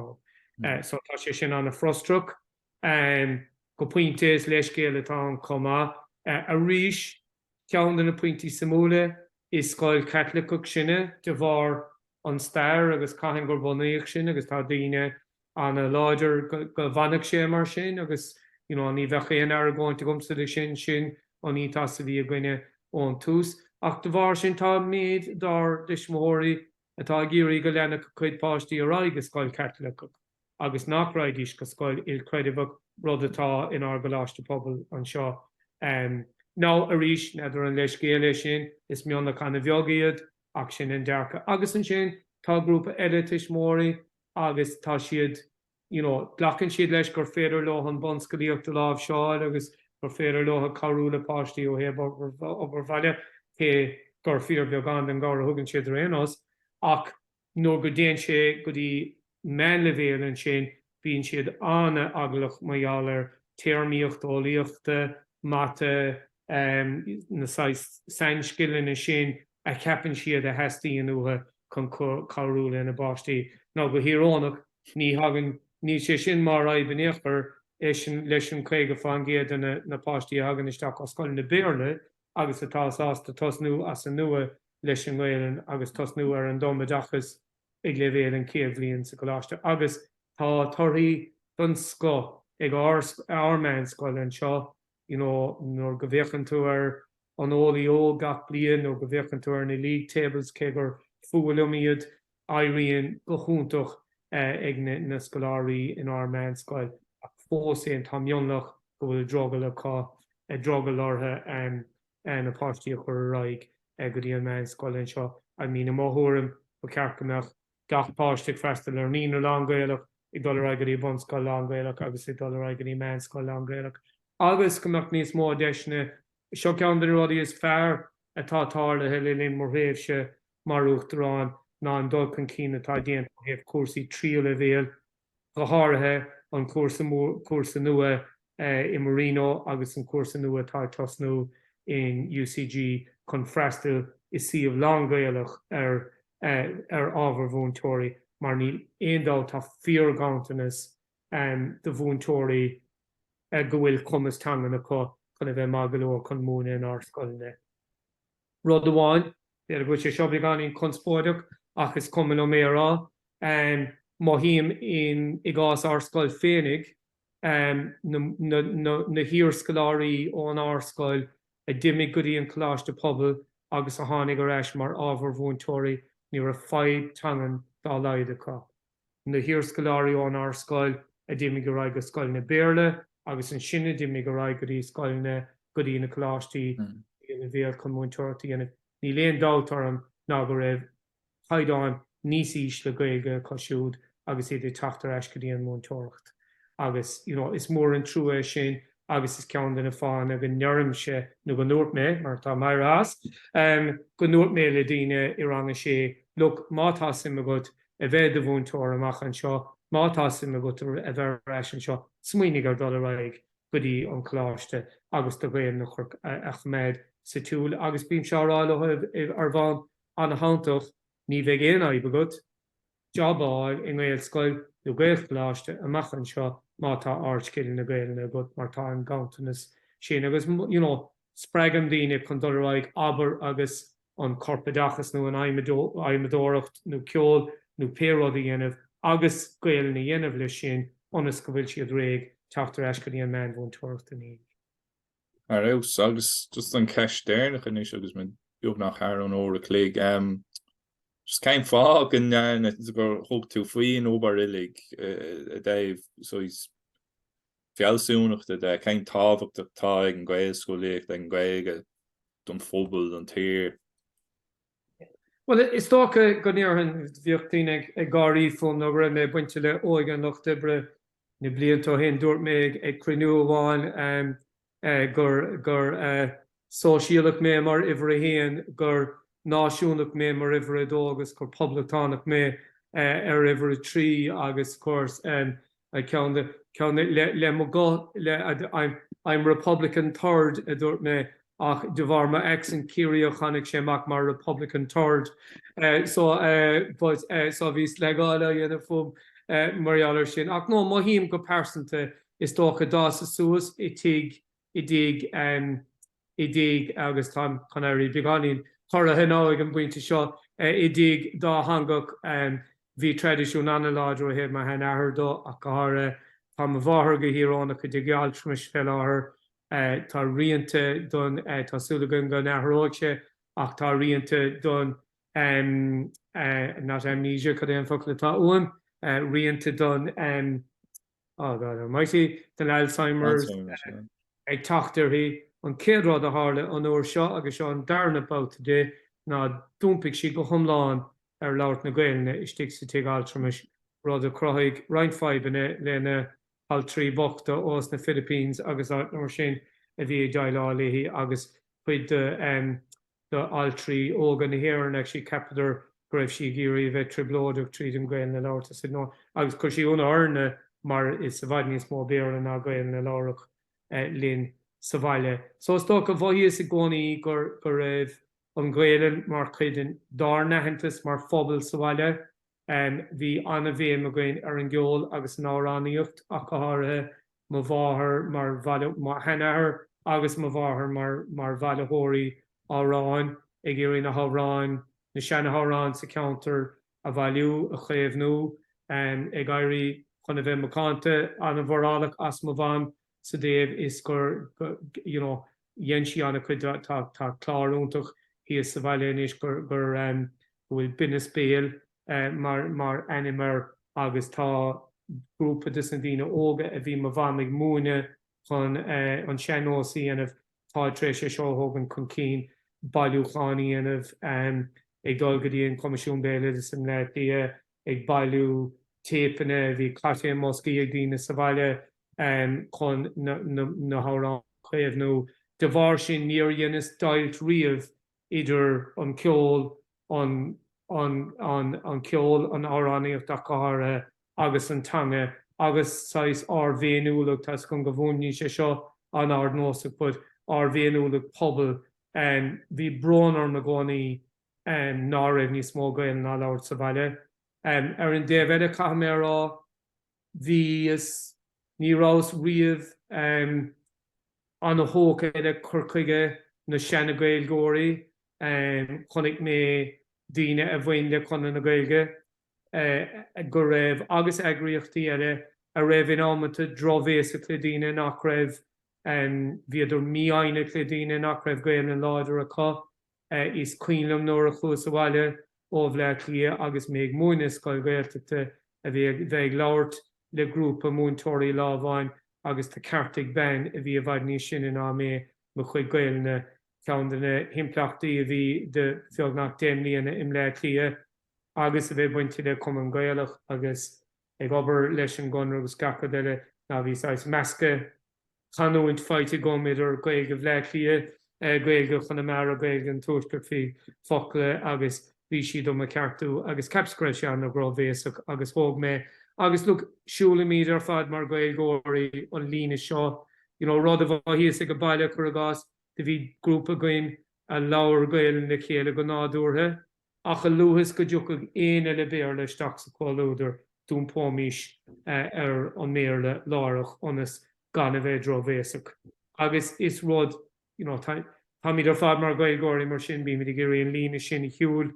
ann. So tá sé sin an-frustrach go pointe, is leithscéal atá ann chomh maith. Arís, ceann de na pointí suimiúla, is scoil Chaitliceach sinne de bharr an stair agus cathain gur bunaíodh sin agus tá daoine an-láidir go bhfanfadh sé mar sin agus you know ní bheadh aon argóint agamsa le sin, sin an ethos a bhí againne ón tús ach de bharr sin tá méid dár dtuismitheoirí atá ag iarraidh go leanfadh a cuid páistí ar aghaidh go scoil Chaitliceach agus nach raghaidís go scoil ilchreidmheach, rud atá inár gcoláiste pobail anseo. em. no arís n'fheadar an leithscéal é sin, is mionlach an-bheag iad ach sin an dearcadh agus ansin tá grúpa eile tuismitheoirí, agus tá siad, you know, glacann siad leis gur féidir leotha an bunscolaíocht a láimhseáil agus gur féidir leotha cabhrú le páistí ó thaobh obair bhaile, cé gur fíorbheagán den gcabhair a thugann siad ar aon nós, ach nuair go dtéann sé go dtí meánleibhéal ansin bíonn siad an-eaglach mar gheall ar téarmaíocht eolaíochta, mata, na saghas sainscileanna sin a cheapann siad a theastaíonn uathu chun cabhrú lena bpáistí. Now go híorónach, ní thagann, níl sé sin mar fhadhb in aon chor leis an 50 fán gcéad de na páistí a thagann isteach ó scoileanna Béarla agus atá sásta tosnú as an nua leis an nGaelainn agus tosnú ar an dtumoideachas ag leibhéal an chéad bhliain sa gcoláiste. Agus tá torthaí den scoth ag ár meánscoil anseo. you know nuair go bhféachann tú ar an Eolaí Óg gach bliain nó go bhféachann tú ar na league tables cé gur fuath liom iad éiríonn go hiontach ag na scoláirí inár meánscoil ach fós fhéin tá mionlach go bhfuil drogall acu drogall orthu and and na páistí a chur ar aghaidh go dtí an meánscoil anseo I mean i mo thuairim ba cheart go mbeadh gach páiste ag freastal ar an naíonra lán-Ghaelach, ag dul ar aghaidh go dtí an bhunscoil lán-Ghaelach agus ag dul ar aghaidh go dtí an meánscoil lán-Ghaelach agus go mbeadh níos mó deiseanna. Seo ceann de na rudaí is fearr atá tarlaithe le linn mo thréimhse mar Uachtarán ná an dul chun cinn atá déanta ó thaobh cúrsaí tríú leibhéal, go háirithe an cúrsa nua i Marino agus an cúrsa nua atá ag tosnú in UCG chun freastail i suíomh lán-Ghaelach ar ar ábhar mhúinteoirí mar níl aon dabht tá fíorghanntanas de mhúinteoirí go bhfuil cumas teangan acu chun a bheith maith go leor chun múineadh inár scoileanna. rud amháin. B'fhéidir go bhfuil sé seo beagáinín conspóideach ach is cuma liom é a rá. Mothaím i gcás ár scoil féinig na hiarscoláirí ón ár scoil a d'imigh go dtí an coláiste pobail agus a tháinig ar ais mar ábhar mhúinteoirí ní raibh fadhb teangan dá laghad acu. na hiarscoláirí ón ár scoil a d'imigh ar aghaidh go scoileanna Béarla agus ansin a d'imigh ar aghaidh go dtí scoileanna, go dtí na coláistí oiliúna Bhéarla chun múinteoireacht a dhéanamh. Níl aon dabht orm ná go raibh caighdeán níos ísle Gaeilge acu siúd agus iad ag teacht ar ais go dtí an mhúinteoireacht agus you know is mór an trua é sin agus is ceann de na fáthanna go ndeirimse nó go ndúirt mé, mar tá mé éirithe as, go ndúirt mé le daoine i rang a sé, look má tá suim agat a bheith i do mhúinteoir amach anseo, má tá suim agat a bheith ar ais anseo, smaoinigh ar dhul ar aghaidh go dtí an Coláiste agus do Ghaelainn a choimeád sa tsiúl agus bímse á rá leo ar bhonn ana-shanntach, ní bheidh aon fhadhb agat jab a fháil i nGaelscoil nó Gaelcholáiste amach anseo má tá ardscileanna Gaelainne agat mar tá an ganntanas sin agus you know. spreagaim daoine chun dul ar aghaidh, abair, agus an corpoideachas nó an adhmadóireacht nó ceol nó pé rud a dhéanamh agus Gaelainn a dhéanamh leis sin ionas go bhfuil siad réidh teacht ar ais go dtí an meánmhúinteoireacht in Éirinn. Ar fheabhas. Agus just an cheist deireanach anois agus muid beagnach thar an uair a chloig, just cén fáth go ndearna, gur thug tú faoin obair uilig i dtaobh, so is, fealsúnachta de, cén tábhacht atá ag an Ghaelscolaíocht, ag an Ghaeilge don phobal, don tír? Bhuel, is dócha go ndéarfainn, bhíodh daoine ag gáirí fúm nó go raibh mé bainte le óige an lucht oibre na blianta ó shin. Dúirt mé ag cruinniú amháin gur. Sóisialach mé mar uimhir a haon, gur náisiúnach mé mar uimhir a dó agus gur poblachtánach mé ar uimhir a trí agus gur ceann de, ceann de, le mo ghuth, le, I'm Republican Third, a dúirt mé, ach de bharr mo accent Ciarraíoch tháinig sé amach mar Republican Turd. So, but, so bhí sleagáil á dhéanamh fúm mar gheall air sin. Ach no, mothaím go pearsanta, is dócha, d'fhásas suas i dtigh i dtigh, em. i dtigh agus táim chun éirí beagáinín corraithe now ag an bpointe seo, i dtigh dátheangach, bhí traidisiún ana-láidir ó thaobh mo shean-athar de ach go háirithe. Tá mo mháthair go híorónach i dtigh altramais fé láthair. Tá rianta don, tá súil againn go n-athróidh sé ach tá rianta don em. eh. not amnesia cad é an focal atá uaim? eh. rianta don em. Oh God Almighty, den Alzheimer's ag teacht uirthi. An chéad rud a tharla an uair seo, agus seo an darna babhta di, ná d'iompaigh sí go hiomlán ar labhairt na Gaelainne istigh sa tigh altramais, rud a chruthaigh roinnt fadhbanna lena haltraí bochta ós na Philippines agus áit mar sin a bhí ag déileáil léi agus cuid de d'altraí óga na hÉireann agus cheapadar go raibh sí ag iarraidh a bheith trioblóideach tríd an Gaelainn a labhairt is, agus chuir sé ionadh orainne mar is i bhfad níos mó Béarla ná Gaelainn a labhradh linn sa bhaile. So is dócha, mhothaíos i gcónaí go raibh an Ghaelainn mar chuid dár n-aitheantas mar phobal sa bhaile Bhí an-bhéim againn ar an gceol agus an amhránaíocht ach go háirithe, mo mháthair, mo sheanathair agus mo mháthair mar bhailitheoirí amhráin, ag iarraidh na hamhráin, na seanamhráin sa cheantar a bhailiú, a chaomhnú, ag éirí chun a bheith macánta, an-mhorálach as mo mham sa dtaobh is gur you know dhein sí ana-chuid tá clár iontach thíos sa bhaile anois gur go bhfuil Binneas Béil mar ainm air agus tá grúpa de sna daoine óga a bhí mo mham ag múineadh chun an sean-nós a dhéanamh tá tar éis é seo a thógaint chun cinn bailiúchán a dhéanamh ag dul go dtí an Coimisiún Béaloideas i mBleá Cliath ag bailiú téipeanna bhí cairtéil i mboscaí ag daoine sa bhaile chun na hamhráin a chaomhnú. De bharr sin níor dheineas deighilt riamh idir an ceol, an ceol, an amhránaíocht ach go háirithe, agus an teanga agus saghas ár bhféiniúlacht tá's agam go bhfuaimníonn sé seo an-ardnósach but ár bhféiniúlacht pobail. Bhí brón orm i gcónaí ná raibh níos mó Gaelainne á labhairt sa bhaile. Ar an dtaobh eile caithfidh mé a rá, bhíos, ní rabhas riamh an-tógtha le cur chuige na seana-Gaeilgeoirí, chonaic mé daoine a bhain le Conradh na Gaeilge go raibh, agus eagraíochtaí eile, a raibh in amanta drochbhéasach le daoine nach raibh, bhíodar mífhoighneach le daoine nach raibh Gaelainn láidir acu. Is cuimhin liom nuair a chuas abhaile ó Bhleá Cliath agus mé ag múineadh i scoil Ghaeltachta a bheith ag labhairt le grúpa múinteoirí lá amháin agus do ceartaigh bean a bhí i bhfad níos sine ná mé mo chuid Gaelainne. Ceann de na himpleachtaí a bhí do bheagnach deich mbliana i mBleá Cliath agus a bheith bainte le Cumann Gaelach agus. ag obair leis an gConradh agus gach rud eile ná bhí saghas meascadh chanúint faighte agam idir Gaeilge Bhleá Cliath, Gaeilge Chonamara, Gaeilge an Tuaiscirt faoi focla agus bhí siad do mo cheartú agus ceapas go raibh sé an-drochbhéasach agus thóg mé agus look siúlaimid ar fad mar Gaeilgeoirí an líne seo you know rud a bhí thíos ag a baile cur i gcás do bhí grúpa againn a labhair Gaelainn le chéile go nádúrtha ach a luaithe is go dtiocfadh éinne le Béarla isteach sa chomhluadar d'iompóimís ar an mBéarla láithreach ionas gan a bheith drochbhéasach agus is rud, you know, táimid ar fad mar Ghaeilgeoirí mar sin bímid ag iarraidh an líne sin a shiúl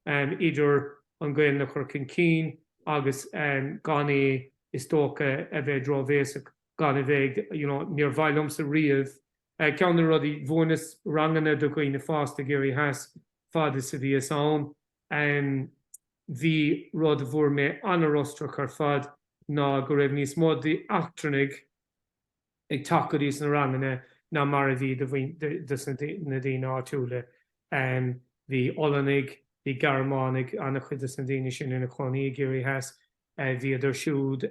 idir an Ghaelainn a chur chun cinn agus gan é is dócha a bheith drochbhéasach, gan a bheith ag, you know, níor mhaith liomsa riamh Ceann de na rudaí, mhúineas ranganna do dhaoine fásta i gCiarraí Theas fad is a bhíos ann. Bhí rud a bhfuair mé ana-fhrustrach ar fad ná go raibh níos mó d'eachtrannaigh ag teacht go dtí sna ranganna ná mar a bhí des na daoine áitiúla. Bhí Ollanaigh, bhí Gearmánaigh, ana-chuid des na daoine sin ina chónaí i gCiarraí Theas, bhíodar siúd,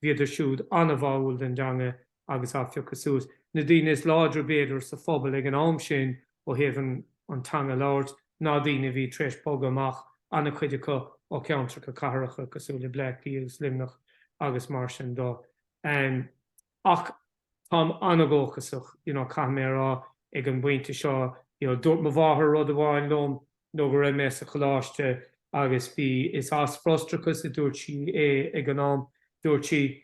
bhíodar siúd ana-bháúil den dteanga agus á phiocadh suas. Na daoine is láidre b'fhéidir sa phobal ag an am sin ó thaobh an teanga a labhairt ná daoine a bhí tar éis bogadh amach, ana-chuid acu ó cheantracha cathracha cosúil le Bleácliath agus Luimneach agus mar sin de. Ach. Táim ana-dhóchasach, you know caithfidh mé a rá ag an bpointe seo, you know dúirt mo mháthair rud amháin liom nuair go raibh mé sa choláiste agus bhí, is as frustrachas a dúirt sí é ag an am, dúirt sí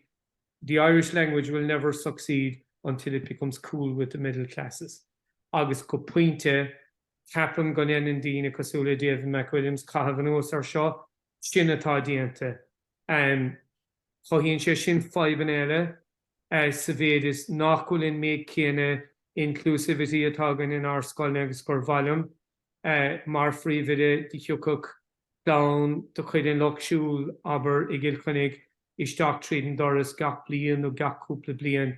the Irish language will never succeed until it becomes cool with the middle classes agus go pointe ceapaim go ndeineann daoine cosúil le David McWilliams caitheamh anuas ar seo, sin atá déanta. Cothaíonn sé sin fadhbanna eile. sa mhéid is nach bhfuil an méid céanna inclusivity againn in ár scoileanna agus gur mhaith liom, mar phríomhoide, do thiocfadh clann de chuid an lucht siúil, abair, i gCill Chainnigh isteach tríd an doras gach bliain nó gach cúpla bliain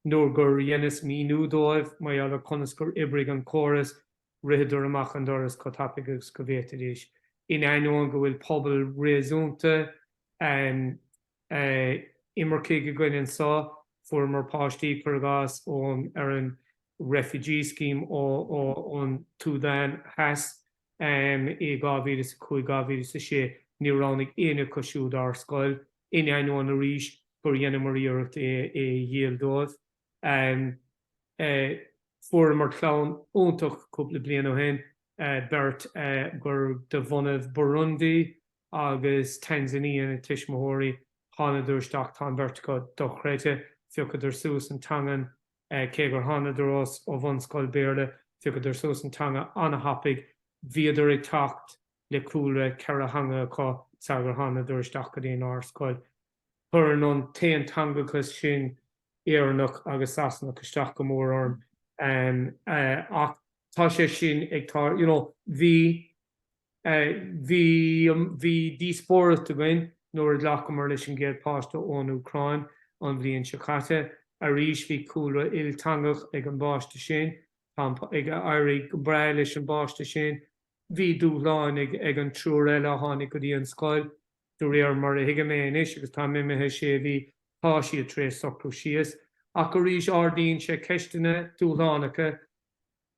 nuair gur dheineas míniú dóibh mar gheall ar conas gur oibrigh an córas, ritheadar amach an doras chomh tapaidh agus go bhféadfaidís, in ainneoin go bhfuil pobal réasúnta. imircigh i gCill Chainnigh anso, fuaireamar páistí, cuir i gcás, ón, ar an refugee scheme ón tSúdáin Theas i 2005, 2006. Níor roghnaigh éinne acu siúd ár scoil, in ainneoin, arís, gur dheineamar iarracht é a dhíol dóibh. Fuaireamar clann iontach cúpla bliain ó shin, beirt gur de bhunadh Burundi agus Tanzania na tuismitheoirí. Thánadar isteach, tá an bheirt acu dochreidthe, phiocadar suas an teangain, cé gur thánadar ó bhunscoil Béarla, phiocadar suas an teanga an-thapaidh, bhíodar ag teacht le cúlra ceithre theanga acu sar gur thánadar isteach go dtí an ár scoil. Chuireann an t-aonteangachas sin Éireannach agus Sasanach isteach go mór orm ach tá sé sin ag tarlú you know bhí, Bhí, bhí díospóireacht againn nuair a ghlacamar leis an gcéad páiste ón Úcráin an bhliain seo caite. Arís bhí cúlra ilteangach ag an bpáiste sin. Tá an, ag éirí go breá leis an bpáiste sin. Bhí dúshláin ag, ag an triúr eile a tháinig go dtí an scoil. De réir mar a thuigim é anois agus táim imithe sé mhí, tá siad tar éis socrú síos. Ach arís ardaíonn sé ceisteanna dúshlánacha.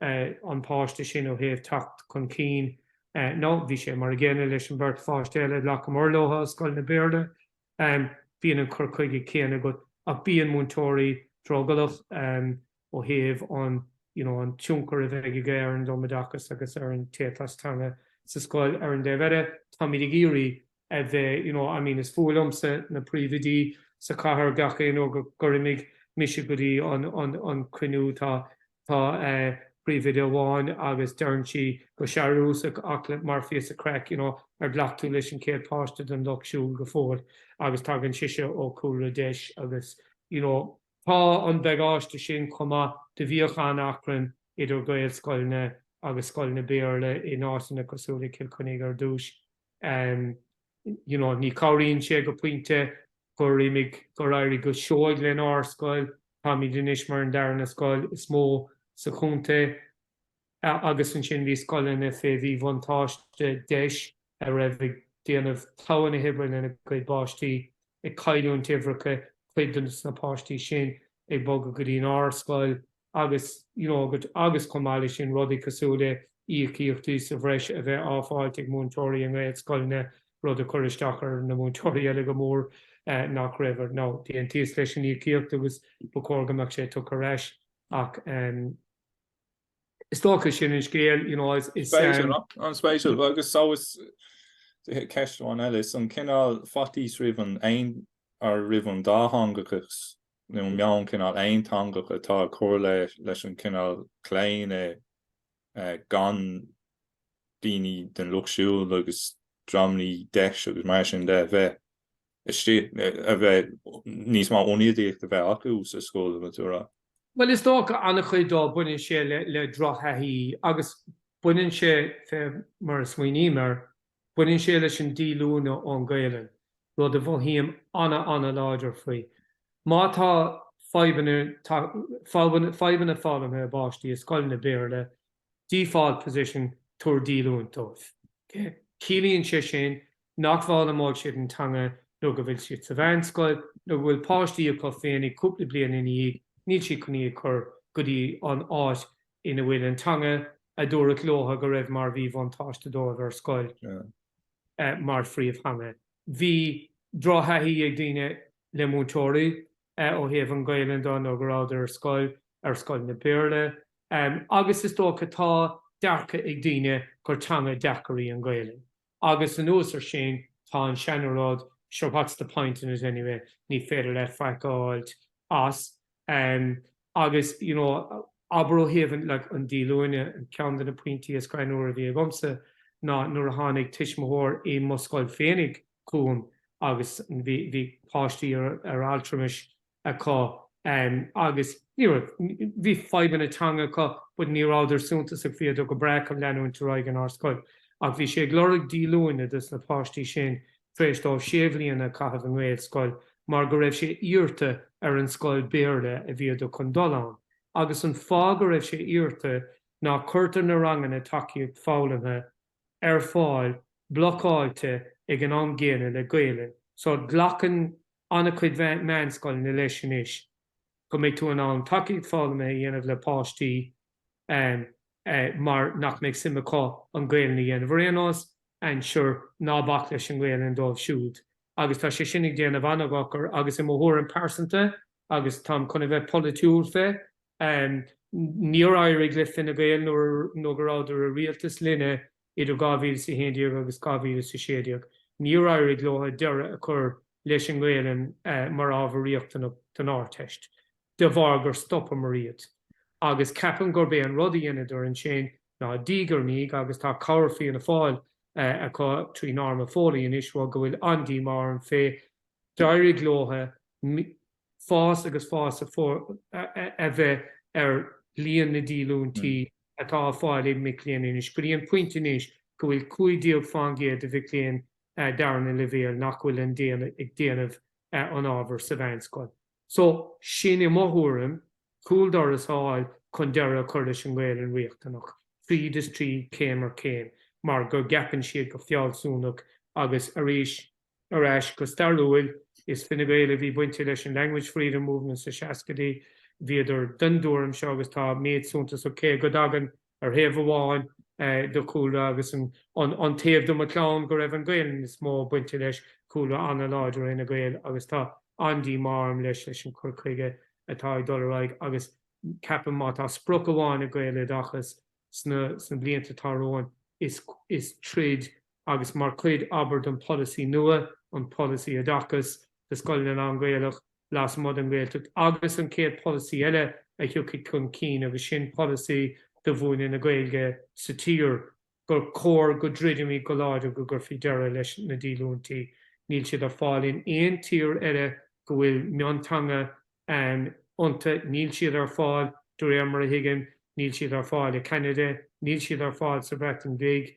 an páiste sin ó thaobh teacht chun cinn nó bhí sé mar an gcéanna leis an bheirt pháiste eile a ghlacamar leothu ó scoileanna Béarla. Bíonn an cur chuige céanna agat ach bíonn múinteoirí drogallach ó thaobh an you know an tionchar a bheidh aige ar an dtumoideachas agus ar an éiteas teanga sa scoil. Ar an dtaobh eile táimid ag iarraidh a bheith you know I mean is fuath liomsa na príomhoidí sa chathair gach aon uair gur imigh mise go dtí an an an cruinniú tá tá eh, príomhoide amháin agus deireann sí go searúsach ach mar phíosa craic you know ar ghlac tú leis an chéad páiste den lucht siúil go fóill agus tagann sise ó cúlra deis agus you know tá an bagáiste sin chomh maith do bhíodh an-achrann idir Gaelscoileanna agus scoileanna Béarla in áiteanna cosúil le Cill Chainnigh ar dtús you know ní cabhraíonn sé go pointe gur imigh gur éirigh go seoigh lenár scoil táimid anois mar an darna scoil is mó sa chontae agus ansin bhí scoileanna fé bhí bhuntáiste deis a raibh ag déanamh togha na hoibre lena gcuid bpáistí ag cailliúint uimhreacha cuid de na páistí sin ag bogadh go dtí an ár scoil agus, you know, go, agus chomh maith leis sin rudaí cosúil le íocaíochtaí sa bhreis a bheith á fáilt ag múinteoirí i nGaelscoileanna, rud a chuir isteach ar na múinteoirí eile go mór nach raibh, nó d'aontaíos leis an íocaíocht agus ba chóir go mbeadh sé tugtha ar ais ach, ehm, is dócha sin an scéal, you know, is, is, ehm. Spéisiúil, an-spéisiúil, agus so is, ceist amháin eile, is an cineál faitíos roimh an aon, or roimh an dátheangachas nó meon cineál aonteangach atá ag cur leis an chineál claonadh gan daoine den lucht siúil agus dreamannaí DEIS agus mar sin de a bheith istigh, a bheith níos mó ionadaíocht a bheith acu sa scoil nó tú a rá. Bhuel is dócha an-chuid dó baineann sé le drochthaithí agus baineann sé, fé mar a smaoiním air, Baineann sé leis an díolúine ón Gaelainn, rud a mhothaím ana-ana-láidir faoi. Má tá fadhbanna, fadhbanna foghlamtha i bpáistí i scoileanna Béarla, default position, tabhair díolúine dóibh. Ciallaíonn sé sin nach bhfoghlaimeoidh siad an teanga nuair go bhfuil siad sa mheánscoil nuair go bhfuil páistí acu féinig cúpla bliain ina dhiaidh, níl siad chun iad a chur go dtí an áit ina bhfuil an teanga a dúradh leotha go raibh mar mhíbhuntáiste dóibh ar scoil mar phríomhtheanga. Bhí drochthaithí ag daoine le múinteoirí ó thaobh an Ghaelainn de nuair go rabhadar ar scoil, ar scoileanna Béarla, agus is dócha tá dearcadh ag daoine gur teanga deacair í an Ghaelainn. Agus anuas ar sin, tá an seana rud seo what's the point in it anyway, ní féidir leat faic a fháilt as. Agus you know, abair ó thaobh an like an díolúine, ceann de na pointí is greannúire a bhí agamsa ná nuair a tháinig tuismitheoir i mo scoil féinig chugam agus bhí bhí páistí ar altramas, acu agus ní raibh, bhí fadhbanna teanga acu but ní rabhadar suntasach, bhíodar go breá chun leanúint ar aghaidh in ár scoil. Ach bhí sé ag lorg díolúine dos na páistí sin tar éis dóibh sé bhliana a chaitheamh i nGaelscoil mar go raibh sé iarrta ar an scoil Béarla a bhíodar chun dul ann agus an fáth go raibh sé iarrta ná cuirtear na ranganna tacaíocht foghlamtha ar fáil blocáilte ag an am gcéanna le Gaelainn. So glacann an-chuid meánscoileanna leis anois go mbeidh tú in ann tacaíocht foghlamtha a dhéanamh le páistí mar nach mbeidh suim acu an Gaelainn a dhéanamh. Ar aon nós, and sure, ná bac leis an nGaelainn dóibh siúd. agus tá sé sin ag déanamh ana-dhochar agus i mo thuairim pearsanta, agus táim chun a bheith polaitiúil fé, níor éirigh le Fine Gael nuair go rabhadar i rialtas linne idir 2011 agus 2016, níor éirigh leotha deireadh a chur leis an nGaelainn mar ábhar riachtanach don Ardteist. de bharr gur stopamar iad. Agus ceapaim gurb é an rud a dheineadar ansin ná diaidh ar ndiaidh agus tá cabhair Fianna Fáil acu trí Norma Foley anois rud go bhfuil an-díomá orm fé, d'éirigh leotha fás agus fás a bheith ar líon na díolúintí atá á fáil ag mic léinn anois, go dtí an pointe anois go bhfuil cúig déag fán gcéad de mhic léinn darna leibhéal nach bhfuil an, ag déanamh an ábhar sa mheánscoil. So, sin, i mo thuairim, cúldoras a fháil chun deireadh a chur leis an nGaelainn riachtanach, tríd is tríd, céim ar chéim, mar go gceapann siad go fealsúnach agus, arís, ar ais go stairiúil, is Fine Gael a bhí bainte leis an Language Freedom Movement sna seascaidí, bhíodar den dtuairim seo agus tá méid suntasach, cé go dtagann. ar thaobh amháin de mo chúlra agus an taobh de mo chlann go raibh an Gaelainn is mó bainte leis, cúlra an-láidir Fhine Gael agus tá an-díomá orm leis an gcur chuige atá ag dul ar aghaidh agus ceapaim má tá sprioc amháin ag Gaeloideachas sna blianta atá romhainn is troid agus mar chuid, abair, den pholasaí nua, an Polasaí Oideachais do Scoileanna Lán-Ghaelach, lasmuigh den Ghaeltacht, agus an chéad pholasaí eile a thiocfaidh chun cinn, agus sin polasaí do mhúineadh na Gaeilge sa tír, gur chóir go dtroidfimid go láidir go gcuirfí deireadh leis na díolúintí. Níl siad ar fáil in aon tír eile go bhfuil mionteanga ann iontu. Níl siad ar fáil, de réir mar a thuigim, níl siad ar fáil i Canada, níl siad ar fáil sa Bhreatain Bhig,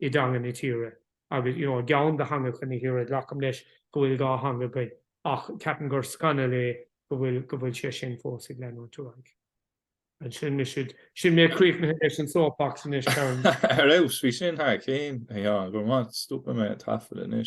i dteanga na tíre agus you know i gceann de theangacha na tíre glacaim leis go bhfuil dhá theanga againn ach ceapaim gur scannal é go bhfuil go bhfuil sé sin fós ag leanúint ar aghaidh. And sin mise sin mé críochnaithe leis an soapbox anois Karen. Ar fheabhas, bhí sin thar cionn, a Sheáin, go raibh maith, stopfaidh mé an taifead anois.